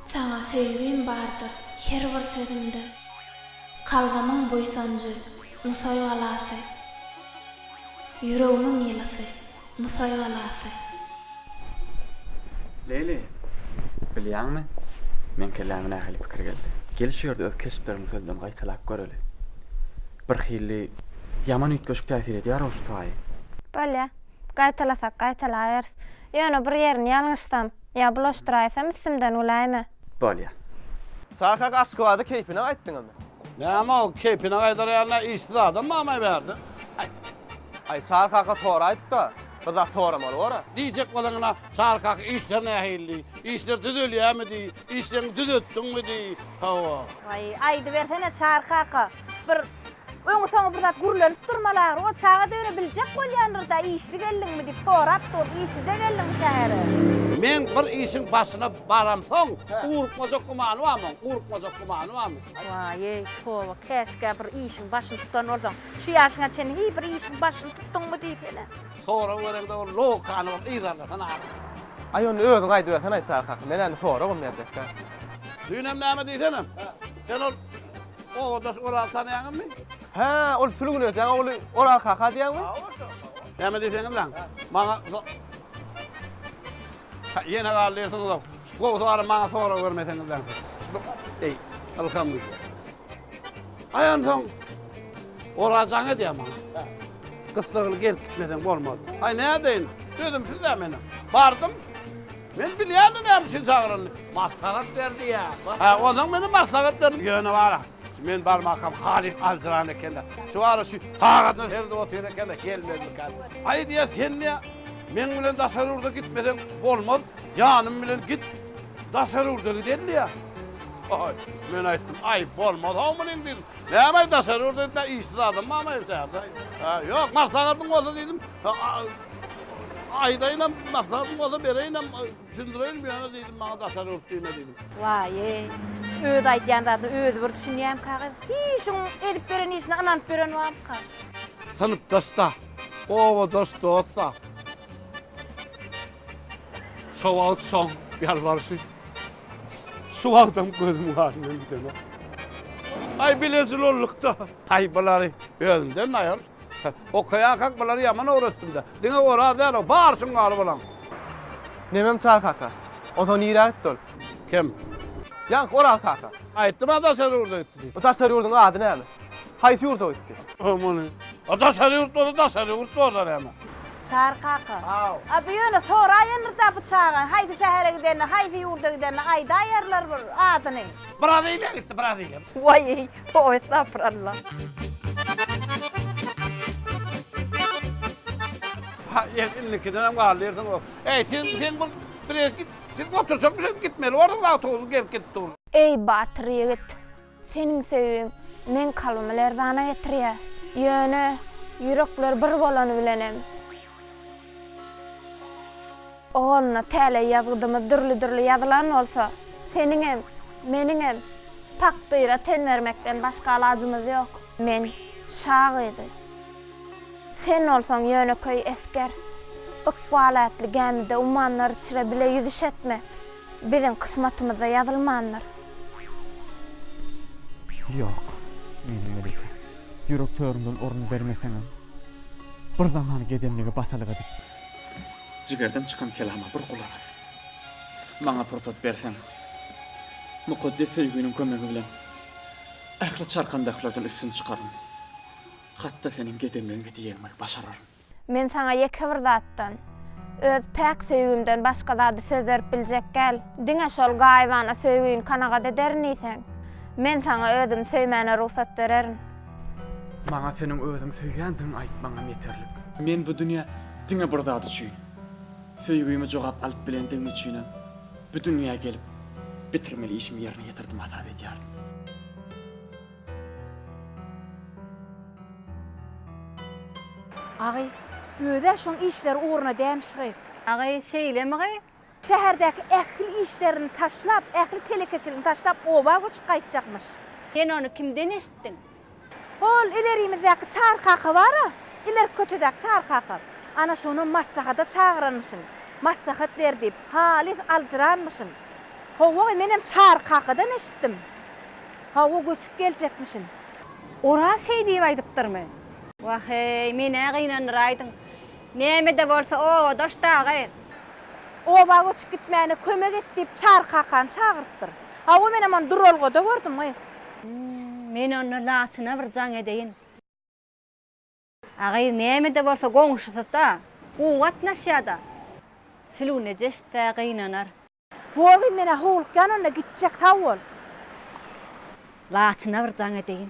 Saňa söýgim bardyr her bir sözümde, Kalbymyň buýsanjy, Nusaý galasy, Ýüregimiň ýylysy, Nusaý galasy. Leýli, bilýäňmi, meň kelläme nähili pikir geldi? Gel şu ýerde öz keşplerimizi sözden gaýtalap göreli. Birhili ýaman üýtgeşik täsir edýär-ow şu taýy. Bolýa. Gaýtalasak gaýtalaýarys. Ýöne bir ýerini ýalňyşsam? Ýa bulaşdyraýsam üstümden güläýme. Bolýa. Şaşak aşkybady keýpine gaýtdyňyzmy. Näme ol keýpine gaýdar ýaly nä işsiz adam bamy bärde aý. Aý Çary kaka soraýypda bizat soramaly bora. Diýjek bolanyna Çary kaka işler nähili diý, işler düzelýämi diý, işleňi düzetdiňmi diý. Hawa. Aý aýdybersene Çary kaka. Bir öňi-soňy bir zat gürlenip durmaly ahyry. O çaga döre biljek bolýandyr-da, işli geldiňmi diýip sorap dur. Işlije geldiňmi şähere? Men bir işiň başyna baramsoň, ugrukmajak gümany barmy? Ugrukmajak gümany barmy? Waý-eý, toba, käşgä bir işiň başyny tutan bolsaň. Şu ýaşyňa çenli hiý bir işiň başyny tutduňmy diýip hene. Sorag bereňde ol logikany bir yzarlasana ahyry. Aý, onda özüň aýdybersen-aý, Çary kaka. Men-ä indi soragam berjek däl. Düýn hem näme diýsene? Sen ol obadaş Oral tanýaňyzmy? Hä, ol Sülgün öýjäň ogly Oral kaka diýýäňmi? Näme diýseňiz lan? Maňa Ýene galdy ýersiňiz-ow. Gowusy barym maňa sorag bermeseňiz lan. Eý, ylham güýji. Aý onsoň Oral jaň edýär maňa. Gyssagyny gelip gitmeseň bolmaz. Aý nädeýin? Özüm sizde meniň. Bardym. Men bilýärdim näme üçin çagyranyny. Maslahat berdi ýa. Hä, onsoň meni maslahat berdi. Ýöne wara, men barmakam halyk aljyran eken-dä. Şu wara şu sagadyna seredip otyr eken-de, gelmezmika. Aý diýýär, sen diýýär, meň bilen daşary ýurda gitmeseň bolmaz, ýanym bilen git, daşary ýurda gideli diýýär. Aý, men aýtdym, aý, bolmaz-haw munyň diýdim. Näme-aý, daşary ýurda gitmän işsiz adam barmy-aý bu şäherde-aý? Hä, ýok, maslahatyň bolsa diýdim. Aýdaýynam, maksadyň bolsa bereýinem, düşündireýinim ýöne diýdim, maňa daşary ýurt diýme diýdim. Waýe, şu öz aýdýan zadyna özi bir düşünýämka gyz. Hiý, şuň edip beren işine ynanyp beren barmyka? Synpdaş-da, obadaş dost-da. Şo wagt şoň ýalbaryşy şu wagtam gözümiň aşyndan gidenok. Aý, bilejil olduk-da. Aý, bulary özümden aýyr. Okaýarkaň bulary ýaman öwretdim-dä. Diňe Oraz däl-ow, bary şuň bar bulaň. Nämem Çary kaka? Onsoň nirä gitdi ol? Kim? Ýaňky Oraz kaka. Aýtdym-a daşary ýurda gitdi diýip. O daşary ýurduň ady näme? Haýsy ýurda gitdi? Muny. A daşary ýurt bolsa daşary ýurt bor-da näme? Çary kaka. Haw. A bu ýöne soraýandyr-da bu çagaň haýsy şähere gidenini, haýsy ýurda gidenini aýdaýarlar bir adyny. Braziliýa gitdi, Braziliýa. Waý-eý. Toý estapyralla. Ha, el, indikiden hem galdy yerden o. Ey, sen, sen bu, bir git, sen oturacakmış, hep gitmeli, orada da oturdun, gelip gitti oğlum. Eý, batyr ýigit, seniň söýgiň meň kalbymy lerzana getirýär. Ýöne, ýürekler bir bolany bilenem. Ogulna, täleý ýazgydymyz dürli-dürli ýazylan bolsa, seniňem, meniňem takdyra ten bermekden başga alajymyz ýok. Men, şa gyzy. Sen bolsaň ýönekeý esger. Ykbal ätli gämide ummanlar içre bile ýüzüş etme. Biziň kysmatymyzda ýazylmandyr. Ýok, meniň Melike. Ýürek törümden orun bermeseňem, bir zaman gedemligi basalyk edip. Jigerden çykan kelama bir gulak as. Maňa pursat berseň, mukaddes söýginiň kömegi bilen ähli çarkandaklardan üstün çykaryn. Hat-da seniň gedemligiňe diýegimi başararyn. Men saňa ýeke bir zatdan, öz päk söýgimden başga zady söz berip biljek däl. Diňe şol gaýybana söýgini kanagat ederin diýseň, men saňa özümi söýmäne rugsat bererin. Maňa seniň özüňi söýýändigiňi aýtmaňam ýeterlik. Men bu dünýä diňe bir zat üçin, söýgimi jogap alyp bilendigim üçinem bu dünýä gelip, bitirmeli işimi ýerine ýetirdim hasap edýärin. Agy, Özi-ä şoň işleri ugruna dämiş gyz. Agy, Şeýlemi gyz? Şäherdäki ähli işlerini taşlap, ähli telekeçiligini taşlap oba göçüp gaýtjakmyş. Sen ony kimden eşitdiň? Hol ilerimizdäki Çary kaka bar-a, ilerki köçedäki Çary kaka. Ana şonam maslahata çagyranmyşyn. Maslahat ber diýip, halys aljyranmyşyn. Hawa gyz, menem Çary kakadan eşitdim. Hawa, göçüp geljekmişin. Oraz şeý diýip aýdypdyrmy? Wah-eý, men-ä gynandyraýdym. Näme-de bolsa, obadaş dagy. Oba göçüp gitmäne kömek et diýip, Çary kakany çagyrypdyr. Hawa, menem ony duralgada gördüm-ä. Men onda Laçyna bir jaň edeýin. Agyz nämede bolsa goňşusyda gowy gatnaşýada. Sülüw nejesde gynanar. Bogy menä howlukýan onda gitjek sag bol. Laçyna bir jaň edeýin.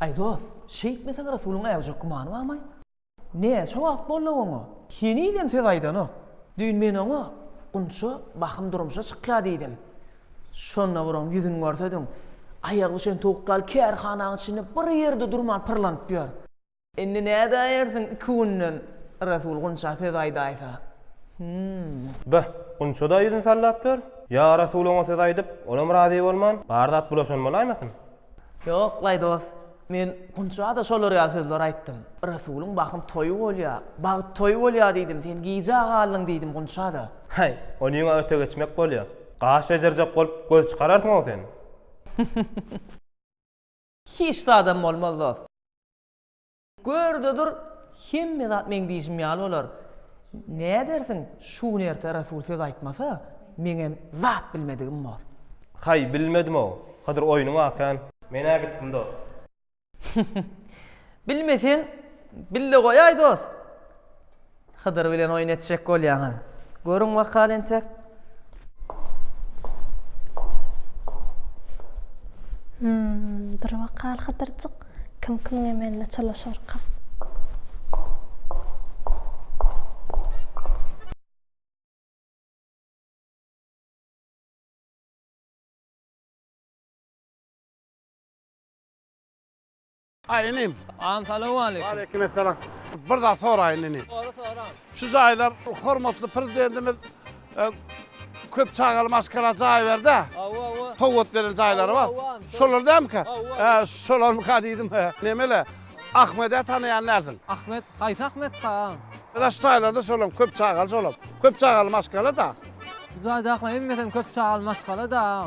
Aý dost, şeýtmeseň Rasulyň äwjek gümany barmy? Näçe wagt boldy oňa? Henizem söz aýdanok. Düýn men oňa, Gunça, bahym durmuşa çykýar diýdim. Şonda bir oň ýüzüni görsediň. Aýagy bişen towuk ýaly kärhanaň içinde bir ýerde durman pyrlanyp ýör. Indi nädäýersiň iki günden Resul Gunça söz aýdaýsa? Hum. Beh, Gunça-da ýüzüni sallap ýör. Ýa Resul oňa söz aýdyp, olam razy bolman, bar zat bulaşan bolaýmasyn? Ýok, laý dost. Men Gunça-da şolar ýaly sözler aýtdym. Resulyň bahym toýy bolýa, bagt toýy bolýa diýdim, sen gijä galdyň diýdim Gunça-da. Häý, ony ýüňe öte geçmek bolýa. Gaş bejerjek bolup göz çykararsyň-ow sen. Hiç zadam bolmaz dost. Gör-de dur, hemme zat meň diýşim ýaly bolar. Nädersiň, şu gün erte Rasul söz aýtmasa, meňem zat bilmedigim bor. Haý, bilmedim-ow. Hydyr oýnuňy akän. Men-ä gitdim dost. Bilmeseň, bille goýaý dost. Hydyr bilen oýun etjek bolýaňyz. Görüň wakany entek. Hum, dur wakal Hydyrjyk, kim kimiň emeline çalyşarka. Aý inim. Agam salowmaleýkim. Waleýkim essalam. Bir zat soraýyn inim. Sora sora. Şu jaýlar hormatly prezidentimiz e, köp çagaly maşgala jaý berdi. Awa awa. Towat beren jaýlary bar. Awa, awa. Şolar dämkä? Awa. He, şolarmyka diýdim. he. Nemele? Ahmede tanaýan dälsiň. Ahmet, haýsy Ahmet ka? Ýa şu jaýlarda şolam köp çagaly şolam. Köp çagaly maşgala da. Bu jaýda akla emmesem köp çagaly maşgala da.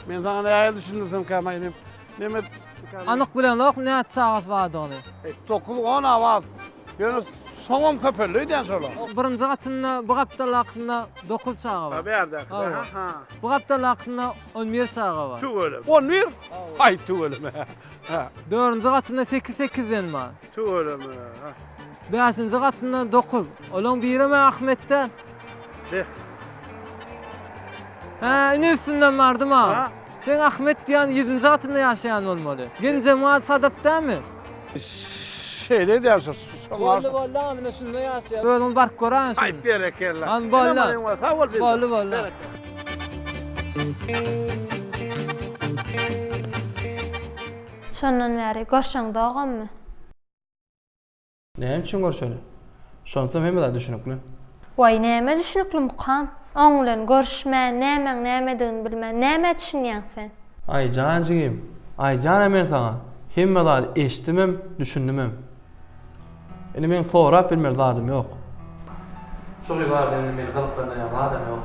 Men saňa nähili düşündirsemkä maýnym. Nemes dükany. Anyk bilemzok näçe çagasy bardygyny. Dokuz on awaz. Ýöne soňam köpeldi öýdýän şolar. O birinji gatynda bu gapdalakynda dokuz çaga bar. Bärdäki. Hawa. Ha. Bu gapdalakynda on bir çaga bar. Tüweleme. On bir? Aý tüweleme. Ha. Dördünji gatynda sekiz sekizden bar. Tüweleme. Ha. Bäşinji gatynda dokuz. Olaň birem Ahmetden. Heh. Hä, ine üstünden bardym ha. Ha. Seň Ahmet diýýän ýedinji gatynda ýaşaýan bolmaly. Genjemal Sadap dälmi? Şeýle edýän şo. Boldy boldy aga mine şunda ýaşaýar. Özüňiz baryp göräýiň şuny. Aýt berekella. Hany boldy. Ene maýyň we sag bol Bildir. Boldy boldy. Berekella. Şondan bäri görşeň dogammy. Näme üçin görşeli? Şonsam hemme zat düşünikli. Waý, näme düşünikli mukam? Oň bilen görüşmän, nämäň nämedigini bilmän, nämä düşünýäň sen? Aý, jan jigim, aýdýan-a men saňa, hemme zady eşitdimem, düşündimem. Indi meň sorap bilmeli zadym ýok. Şol ýyllarda indi meni gyzyklandyrýan zadam ýok.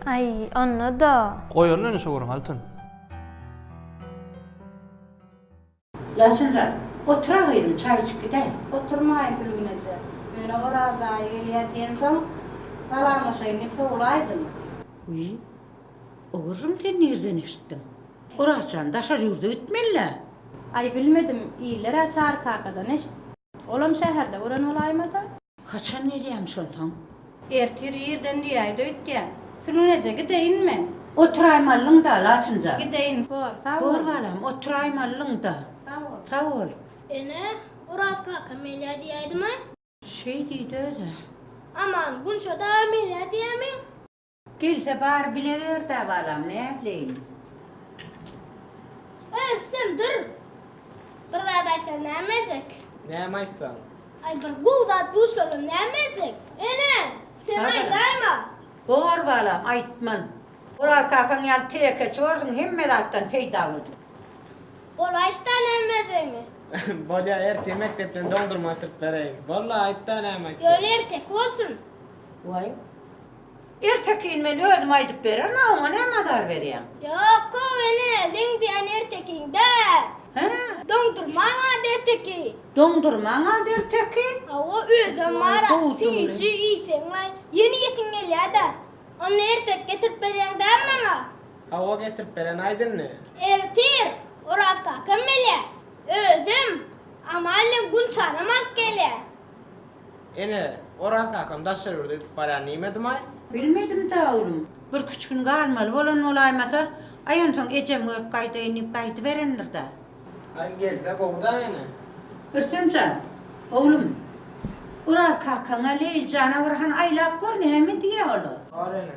Aý, onda-da. Goýalyň indi şo gürrüňi, Altyn. Laçynjan, otur-a gyzym, çaý içip gidäý. Oturmaýyn Tülgün eje. Ýöne Oraz aýy gelýä diýensoň, salamlaşaýyn diýip sowulaýdym. Wiý, o gürrüňi sen nirden eşitdiň? Oraz jan, daşary ýurda gitmeli-dä. Aý, bilmedim, iller-ä Çary kakadan eşitdi. Olam şäherde gören bolaýmasa? Haçan gelýämiş onsoň? Ertir irden diýäýdi öýtýän. Sülgün eje, gideýin men. Oturaýmalyň-da, Laçyn jan. Gideýin, bor, sag bol. Bor, balam, oturaýmalyň-da. Sag bol. Sag bol. Ene, Oraz kaka Melýa diýäýdimi? Şeý diýdi öz-ä. Aman, Gunça dagy Melýa diýämi? Gelse bar bile ber-dä balam, nätleýin. Öz sen dur. Bir zat aýtsaň nämejek? Näme aýtsaň? Aý bir gowy zat duş geldi nämejek? Ene, sen aýdaýma. Bor balam, aýtman. Oraz kakaň ýaly tirekeçi borsuň, hemme zatdan peýdalydyr. Bol aýt-da nämejegini. Bolýa, ertir mekdepden doňdurma getirip bereýin. Bol-la, aýt-da näme aýtjak. Ýöne erteki bolsun. Waý, Ertekin men özüm aýdyp bererin a oňa näme azar berýäň. Ýok gowy ene seň diýýän ertekiň däl. Hä? Doňdurmaň ad ertekin. Doňdurmaň ad ertekin? Hawa özem bar a süýji iýseňlaý ýene iýesiň gelýäda. Onda ertek getirip berýäň däl maňa? Hawa getirip beren aýt indi. Ertir Oraz kakam gelýä özem Amal bilen Gunçanam alyp gelýä. Ene, Oraz kakam daşary ýurda gidip barýan diýmedim-aý? Bilmedim-dä, oglum. Birküç gün galmaly bolan bolaýmasa, aý onsoň ejem görüp gaýdaýyn diýip gaýdyberendir-dä. Aý, gelse gowy-da, ene. Rüstem jan, oglum, Oraz kakaňa, Leýli jana bir hany aýlap gör, näme diýýä olar? Bar, ene.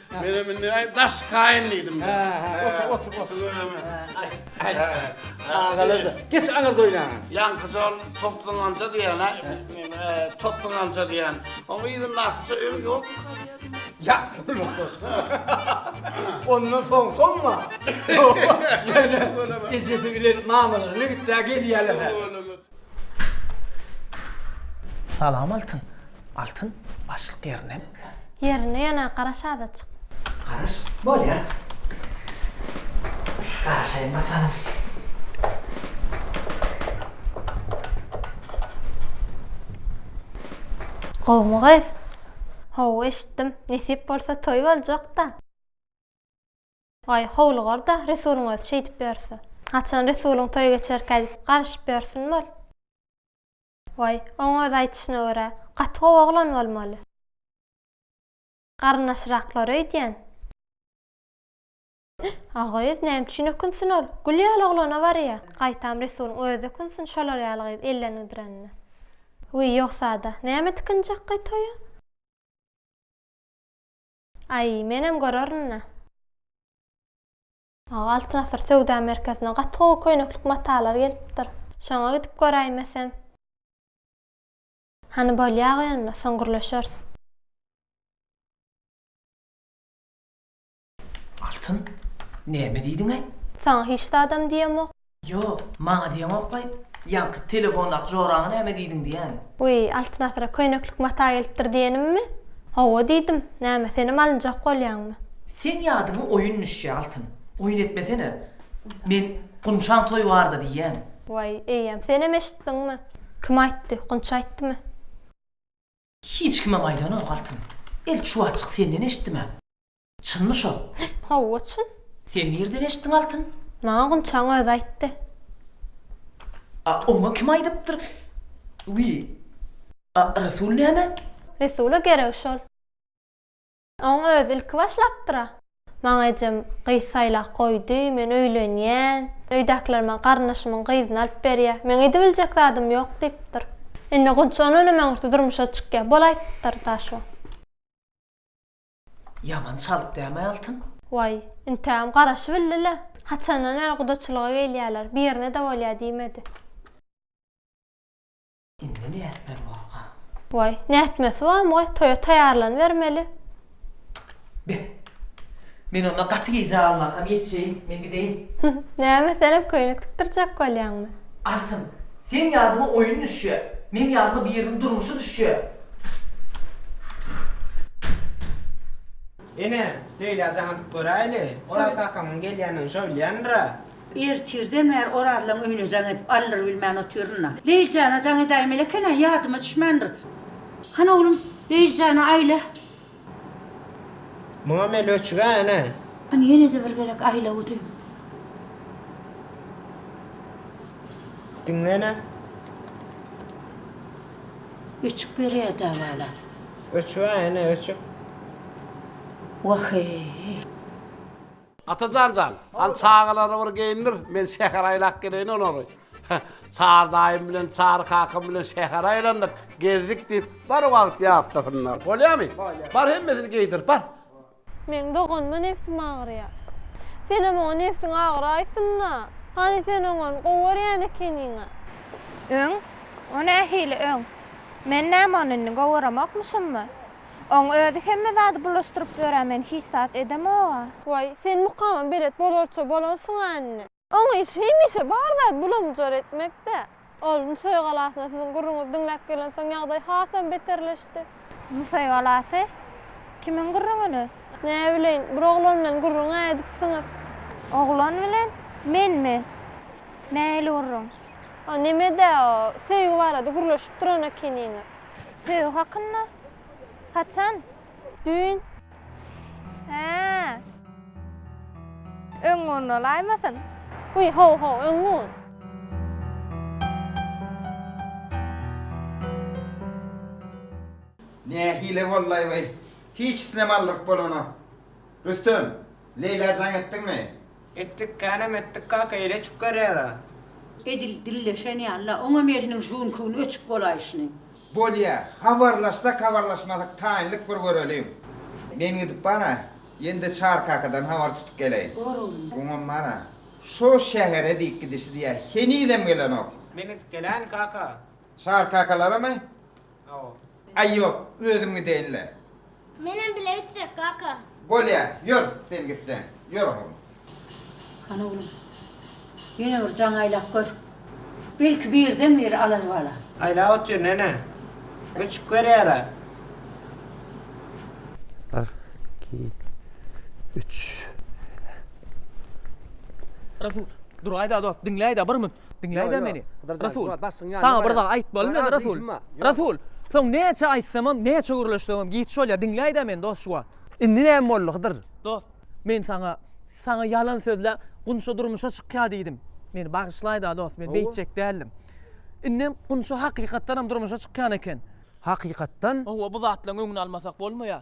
Menem indi aý daş kaýyn diýdim. Hä, otur, otur, otur. Aý, çagalar-da. Geç aňyr doýnaňa. Ýaňkyja ol topluňanja diýen-ä, topluňanja diýen. Oň yzyndakyja öň ýokmy? Ýat bolma goşgy. Ondan soň soňma. Ýöne ejesi bilen mamalaryna gitdä gelýärler. Salam Altyn. Altyn, başlyk ýerinemi? Ýerinde ýöne garaş azajyk. Garaş? Bolýar. Garaşaýyn bakalym. Gowumy gyz? Hawa eşitdim. Nesip bolsa toý boljak-da. Aý, howlugar-da, Resulyň özi şeýdip ýörse. Haçan Resulyň toýy geçerkä diýip, garyşyp ýörsinmi ol? Waý, oň öz aýdyşyna görä, gaty gowy oglan bolmaly. Garyndaşyraklar öýdýän. Agyz, näme üçin ökünsin ol? Gül ýaly oglana barýa. Gaýtam Resulyň özi ökünsin şolar ýaly gyz elden gidirenine. Wiý, ýogsa-da, näme tikinjekkaý toýa? Aý, menem görerin-le. Aga Altyn Asyr söwda merkezine gaty gowy köýneklik matalar gelipdir. Şoňa gidip göräýmesem. Hany bolýa-ga ýöne, soň gürleşeris. Altyn, näme diýdiň-ä? Saňa hiç zadam diýemok. Ýok, maňa diýeňokkaý, ýaňky telefondaky joraňa näme diýdiň diýýän. Wiý, Altyn asyra köýneklik mata gelipdir diýenimmi? Hawa diýdim, näme, senem alynjak bolýaňmy? Seň ýadyňa oýun düşýä, Altyn. Oýun etmesene. Men Gunçaň toýy barda diýýän. Waý, eýýäm, senem eşitdiňmi? Kim aýtdy, Gunç aýtdymy? Hiç kimem aýdanok, Altyn. El çuwaçjyk senden eşitdim-ä. Çynmy şol? Hawa, çyn. Sen nirden eşitdiň Altyn? Maňa Gunçaň özi aýtdy. A oňa kim aýdypdyr? Wiý. A Resul näme? Resula gerek şol. Oň özi ilki başlapdyr-a. Maňa ejem gyz saýlap goýdy, men öýlenýän. Öýdäkiler maňa garyndaşymyň gyzyny alyp berýär. Meň edibiljek zadym ýok diýipdir. Indi Gunça ondan hem öňürti durmuşa çykýar. Bolaýypdyr-da şo. Ýaman çalyp däme Altyn. Waý, intägem garaşybildi-le. Haçandan bäri gudaçylyga gelýäler, birine-de bolýa diýmedi. Indi nätmeli bolka? Waý, nätmesi barmy goý, toýa taýýarlanybermeli. Be! Men onda gaty gijä galmasam ýetişeýin, men gideýin. Näme, senem köýnek tikdirjek bolýaňmy? Altyn! Seň ýadyma oýun düşýär. Meň ýadyma biriniň durmuşy düşýär. Ene, Leýlä jaň atyp göräýeli. Oraz kakamyň gelýändigini şöwleýändir-ä. Ertirden bäri Orazlaň öýüne jaň edip aldyrybilmän otyryn-a. Leýl jana jaň edäýmeli eken-ä, ýadyma düşmändir. Hany, oglum, Leýl jana aýla. Muňa men öçüge ene. Hany ýene-de bir gezek aýla gudym. Diňle ene. Öçük berýär dabalap. Öçüge ene öçük. Wah-eý. Atajan jan, hany çagalary bir geýindir, men şähere aýlap geleýin olary. Çary daýym bilen Çary kakam bilen şähere aýlandyk, gezdik diýip, bir wagt ýatlasynlar. Bolýamy? Bolýar. Bar hemmesini geýdir, bar. Meň doganyma nebsim agyrýar. Senem oňa nebsiň agyraýsyn-da. Hany sen oňony gowy görýän ekeniň-ä? Öň? O nähili öň? Men näme ony indi gowy göremokmuşammy? Oň özi hemme zady bulaşdyryp böra men hiç zat edemoga. Waý, sen mukama belet bolarça bolansyň-a indi. Oň işi hemişe bar zat bulamjar etmekdä. Ol Nusaý galasyna siziň gürrüňizi diňläp gelensoň ýagdaý hasam beterleşdi. Nusaý galasy? Kimiň gürrüňini? Näbileýin, bir oglan bilen gürrüň-ä edipsiňiz. Oglan bilen? Menmi? Nähili gürrüň? O neme-dä, o, söýgi barada gürleşip duran ekeniňiz. Söýgi hakynda? Haçan? Düýn. Hä. Öň gün bolaýmasyn? Wiý, haw-haw, öň gün. Nähili bollaý we hiç islemaldyk bolanok. Rüstem, Leýlä jaň etdiňmi? Etdik, känem etdik kaka, ele çük garýara. Edil dilleşen ýaly-la, oňam eliniň žüňkügini öçüp bolaýşyny. Bolýa, habarlaşsak-habarlaşmasak taýynlyk bir göreliň. Men gidip bar-a, ýene-de Çary kakadan habar tutup geleýin. Bor oglum. Oňam bar-a, şo şähere diýip gidişi diýýä, henizem gelenok. Men gidip gelän kaka. Çary kakalaramy? Aý ýok, özüm gideýin-le. Menem bile gitjek, kaka. Bolýa, ýör, sen gitseň. Ýör, oglum. Hany, oglum, ýene bir jaň aýlap gör. Belki birden-bir alar balam. Aýlap otur, nene. Göçük berýär-ä. Bir, iki, üç. Rasul, dur-aý-da, dost, diňläý-dä, bir münt. Diňläý-dä meni, Rasul! Saňa bir zat aýtmaly men, Rasul! Rasul! Soň näçe aýtsamam, näçe gürleşsemem giç bolýar. Diňläý-dä meni, dost, şu wagt! Indi näme boldy, Hydyr? Dost, men saňa, saňa ýalan sözläp, Gunça durmuşa çykýar diýdim. Meni bagyşlaý-da, dost, men beýtjek däldim. Indem Gunça hakykatdanam durmuşa çykýan eken. Hakykatdan? Hawa, bu zatlaryň öňüni almasak bolmaýar.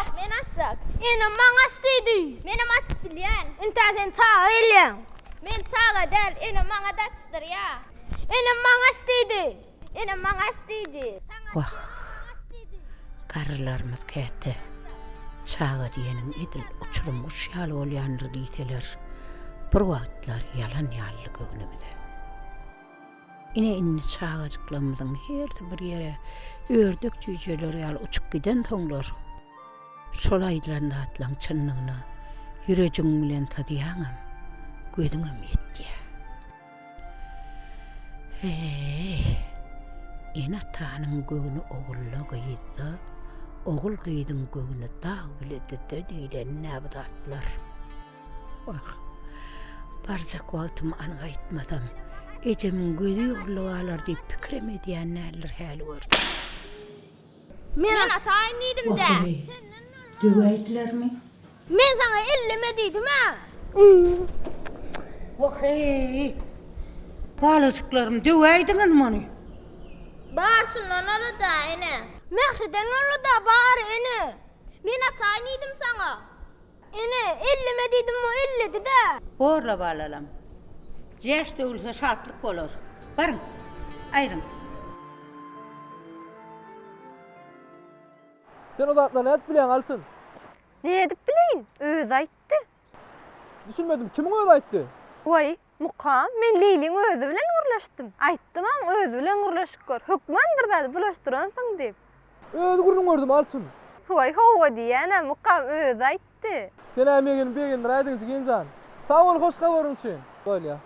Ýok, men açjak. Enem maňa aç diýdi. Menem aç bilýän. Intä sen çaga gelýäň. Men çaga däl, enem maňa daçdyrýa. Enem maňa aç diýdi. Enem maňa aç diýdi. Wah, garrylarymyz käte çaga diýeniň edil uçurym guş ýaly bolýandyr diýseler, bir wagtlar ýalan ýalydy göwnümize. Ine indi çagajyklarymyzyň hersi bir ýere ördek jüýjeler ýaly uçup gidensoňlar, şol aýdylan zatlaryň çynlygyna ýürejigiň bilen syzýaňam, gözüňem ýetýär. Heý, ene-atanyň göwni ogulda, gyzda, ogul-gyzyň göwni dag-bilede-de diýlenine bu zatlar. Wah, barjak wagtymy an gaýtmasam, ejemiň gözi ýolda galar diýip pikirem edýän däldir häli görseň. Men ataýyn diýdim-dä. Wah, eneý, döwäýdilermi? Men saňa elleme diýdim-ä. Wah, eý, balajyklarym, döwäýdiňizmi ony? Bar, şundan ora-da, ene. Mähriden ora-da, bar, ene. Men ataýyn diýdim saňa. Ene, elleme diýdim, o elledi-dä. Borla balalam. Jäş döwülse şatlyk bolar. Baryň, aýryň. Sen o zatlary nädip bilýäň, Altyn? Nädip bileýin? Özi aýtdy. Düşünmedim, kimiň özi aýtdy? Waý, Mukam, Men Leýliň özi bilen gürleşdim. Aýtdymam, özi bilen gürleşip gör. Hökman bir zady bulaşdyransyň diýip. Öz gürrüňi gördüm, Altyn. Waý, hawa diýýän-ä, Mukam özi aýtdy. Sen-ä meni begendir aýdyň, jigim jan. Sag bol hoş habaryň üçin. Bolýa.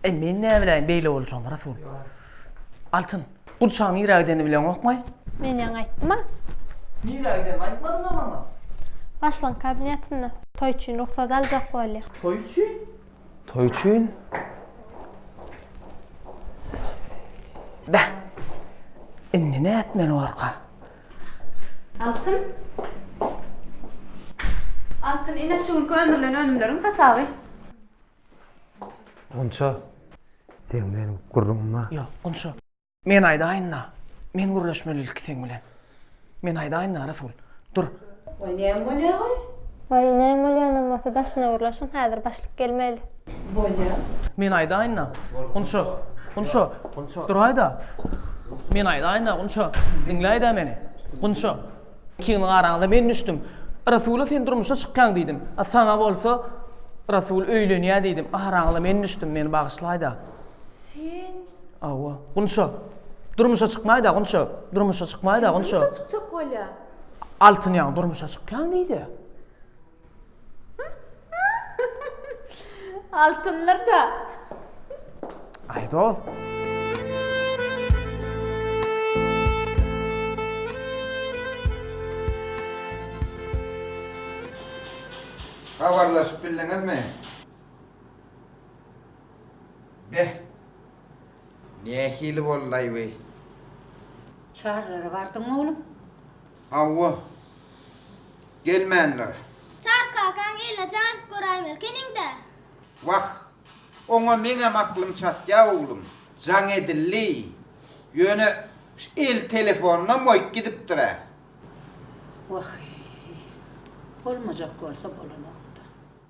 Eý, men näbiläýin beýle boljagyny, Rasul. Altyn, gurçagyň nirä gidenini bileňokmy? Men ýaňy aýtdym-a. Nirä gidenini aýtmadyň-a maňa? Başlygyň kabinetinde. Toý üçin rugsat aljak bolýa. Toý üçin? Toý üçin? Beh, indi nätmeli barka? Altyn. Altyn, ine, şu günki öndürilen önümleriň hasaby. Gunça, seň bilen gürrüňim bar. Ýok, Gunça. Men aýdaýyn-da. Men gürleşmeli ilki seň bilen. Men aýdaýyn-da, Rasul. Dur. Waý, näme bolýa-oý? Waý, näme bolýanam bolsa, daşyna gürleşiň, häzir başlyk gelmeli. Bolýa. Men aýdaýyn-da, Gunça. Gunça, duraý-da. Men aýdaýyn-da, Gunça. Diňläý-dä meni. Gunça. Kimin garaňda men düşdüm. Rasula sen durmuşa çykýaň diýdim. A saňa bolsa Rasul öýlenýä diýdim. Araňyza men düşdüm, meni bagyşlaýda. Sen? Hawa. Gunça. Durmuşa çykmaýda Gunça. Durmuşa çykmaýda Gunça. Durmuşa çykjak bolýa. Altyn ýaň durmuşa çykýaň diýdi. Altynlar da. Ay dost. Habarlaşyp bildiňizmi? Beh. Nähili boldaý bu? Çarlara bardyňmy oglum? Hawa. Gelmändir. Çary kakaň eline jaýylyp göräýmelkeniň-dä. Wah, oňa meňem aklym çatýa, oglum. Jaň edildi. Ýöne şu el telefonynam goýup gidipdir-ä. Wah-eý. Bolmajak bolsa bolanok-da.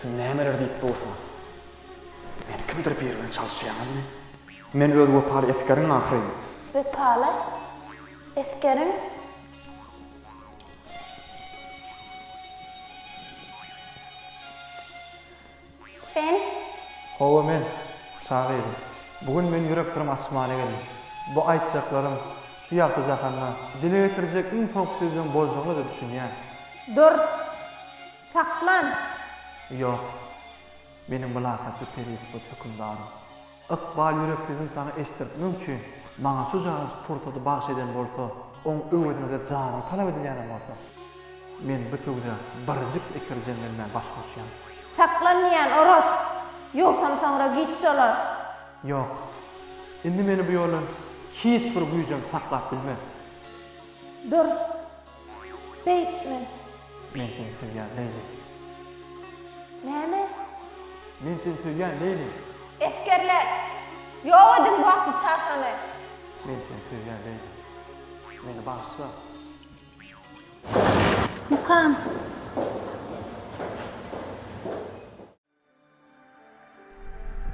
Siz nämeler diýip dursuňyz? Meni kimdir biri bilen çalyşýaňyzmy? Men öz wepaly esgeriň ahyryn. Wepaly esgeriň? Sen? Hawa men, çaga gyzym. Bu gün men ýürek syrymy açmana geldim. Bu aýtjaklarym şu ýagty jahanda dile getirjek iň soňky sözleň boljagyna-da düşünýän. Dur! Saklan! Ýok. Meniň mylakatly perisipot hökümdarym. Ykbal ýüreksizini saňa eşitdirtmek üçin maňa şujagaz pursady bagyş eden bolsa, oň öwezine-de janyň talap edilýänem bolsa, men bu söwda birjik eper jeňlenmän baş goşýan. Saklan diýýän, Oraz! Ýogsam soňra giç şolar. Ýok. Indi meni bu ýoldan hiç bir güýjem saklap bilmez. Dur! Beýtme. Men seni söýýän Leýli. Näme? Men seni söýýän Leýli. Esgerler! Ýok ediň bu atly çaşany! Men seni söýýän Leýli. Meni bagyşla! Mukam.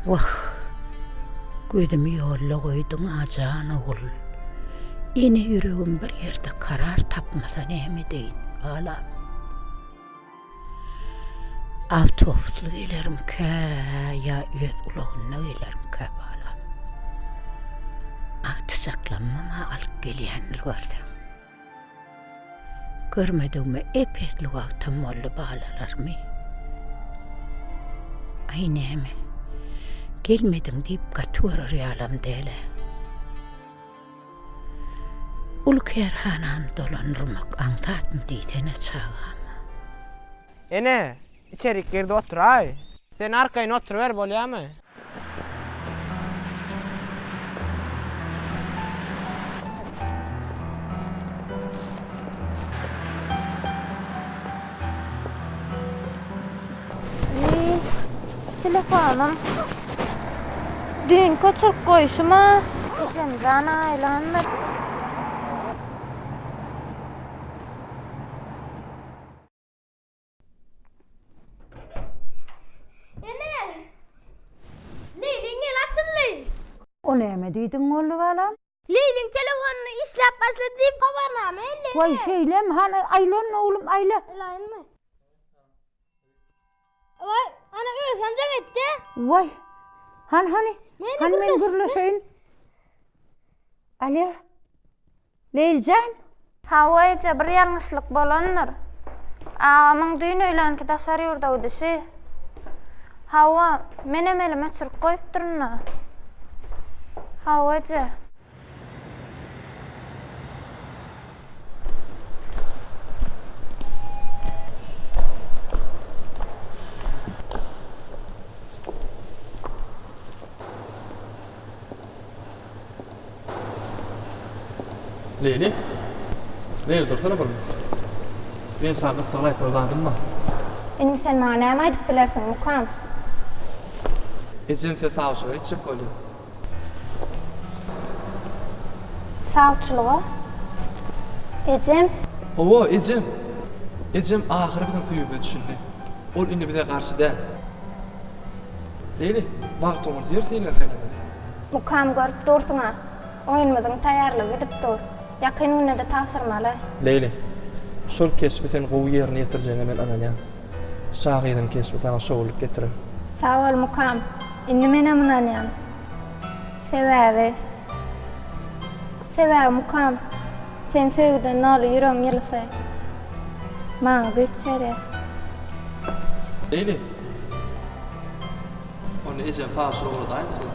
Wah, gözümi ýolda goýduň-a jan ogul. Ene ýüregim bir ýerde karar tapmasa näme edeýin, balam. Awtobusly gelerimkä ýa öz ulagynda gelerimkä, balam. Agtyjaklamyň-a alyp gelýändir görseň. Görmedigime epesli wagtam boldy balalarymy. Aý näme, gelmediň diýip gaty görer ýalam däl-ä. Uly kärhanany dolandyrmak aňsatmy diýsene çagama. Ene, içerik girdi oturaý. Sen arkaýyn oturyber bolýamy? Telefonym düýnki oçuryp goýşuma Esemjan aýlandy. O näme diýdiň Molly balam? Leýliň telefonyny işläp başlady diýip habarnama elde. Waý şeýlem hany aýlan oglum aýla. Elaýynmy? Oy, ana özüm de gitti. Vay. Han hani? Meni Han men gürleşeyin. Alo. Leyljan. Hawaýja bir ýalňyşlyk bolandyr. Agamyň düýn öýlänki daşar ýurda gidişi. Hawa, menem elim öçürip goýupdyryn-da. Hawaýja. Leýli. Leýli dursana bir. Men saňa gyssagly aýtmaly zadym bar. Indi sen maňa näme aýdyp bilersiň, Mukam? Ejem size sawçylyk etjek bolýar. Sawçylyga ejem. Hawa, ejem. Ejem ahyry biziň süýümize düşündi. Ol indi bize garşy däl. Beýle, bagt oňa zer seýle saýlamaly. Mukam görüp dursuň-a. Oýunymyzyň taýýarlygy gidip dur. Ýakyn günde-de tabşyrmaly. Beýle. Şol keşbi sen gowy ýerine ýetirjegiňe men ynanýan. Şahyryň keşbi saňa şowlulyk getirer. Sag bol mukam. Indi menem ynanýan. Sebäbi Sebäbi mukam sen söýgüden doly ýüregiň ýylysy maňa güýç berýär. Leyli! Ony ejem taşyra ugradaýyn size.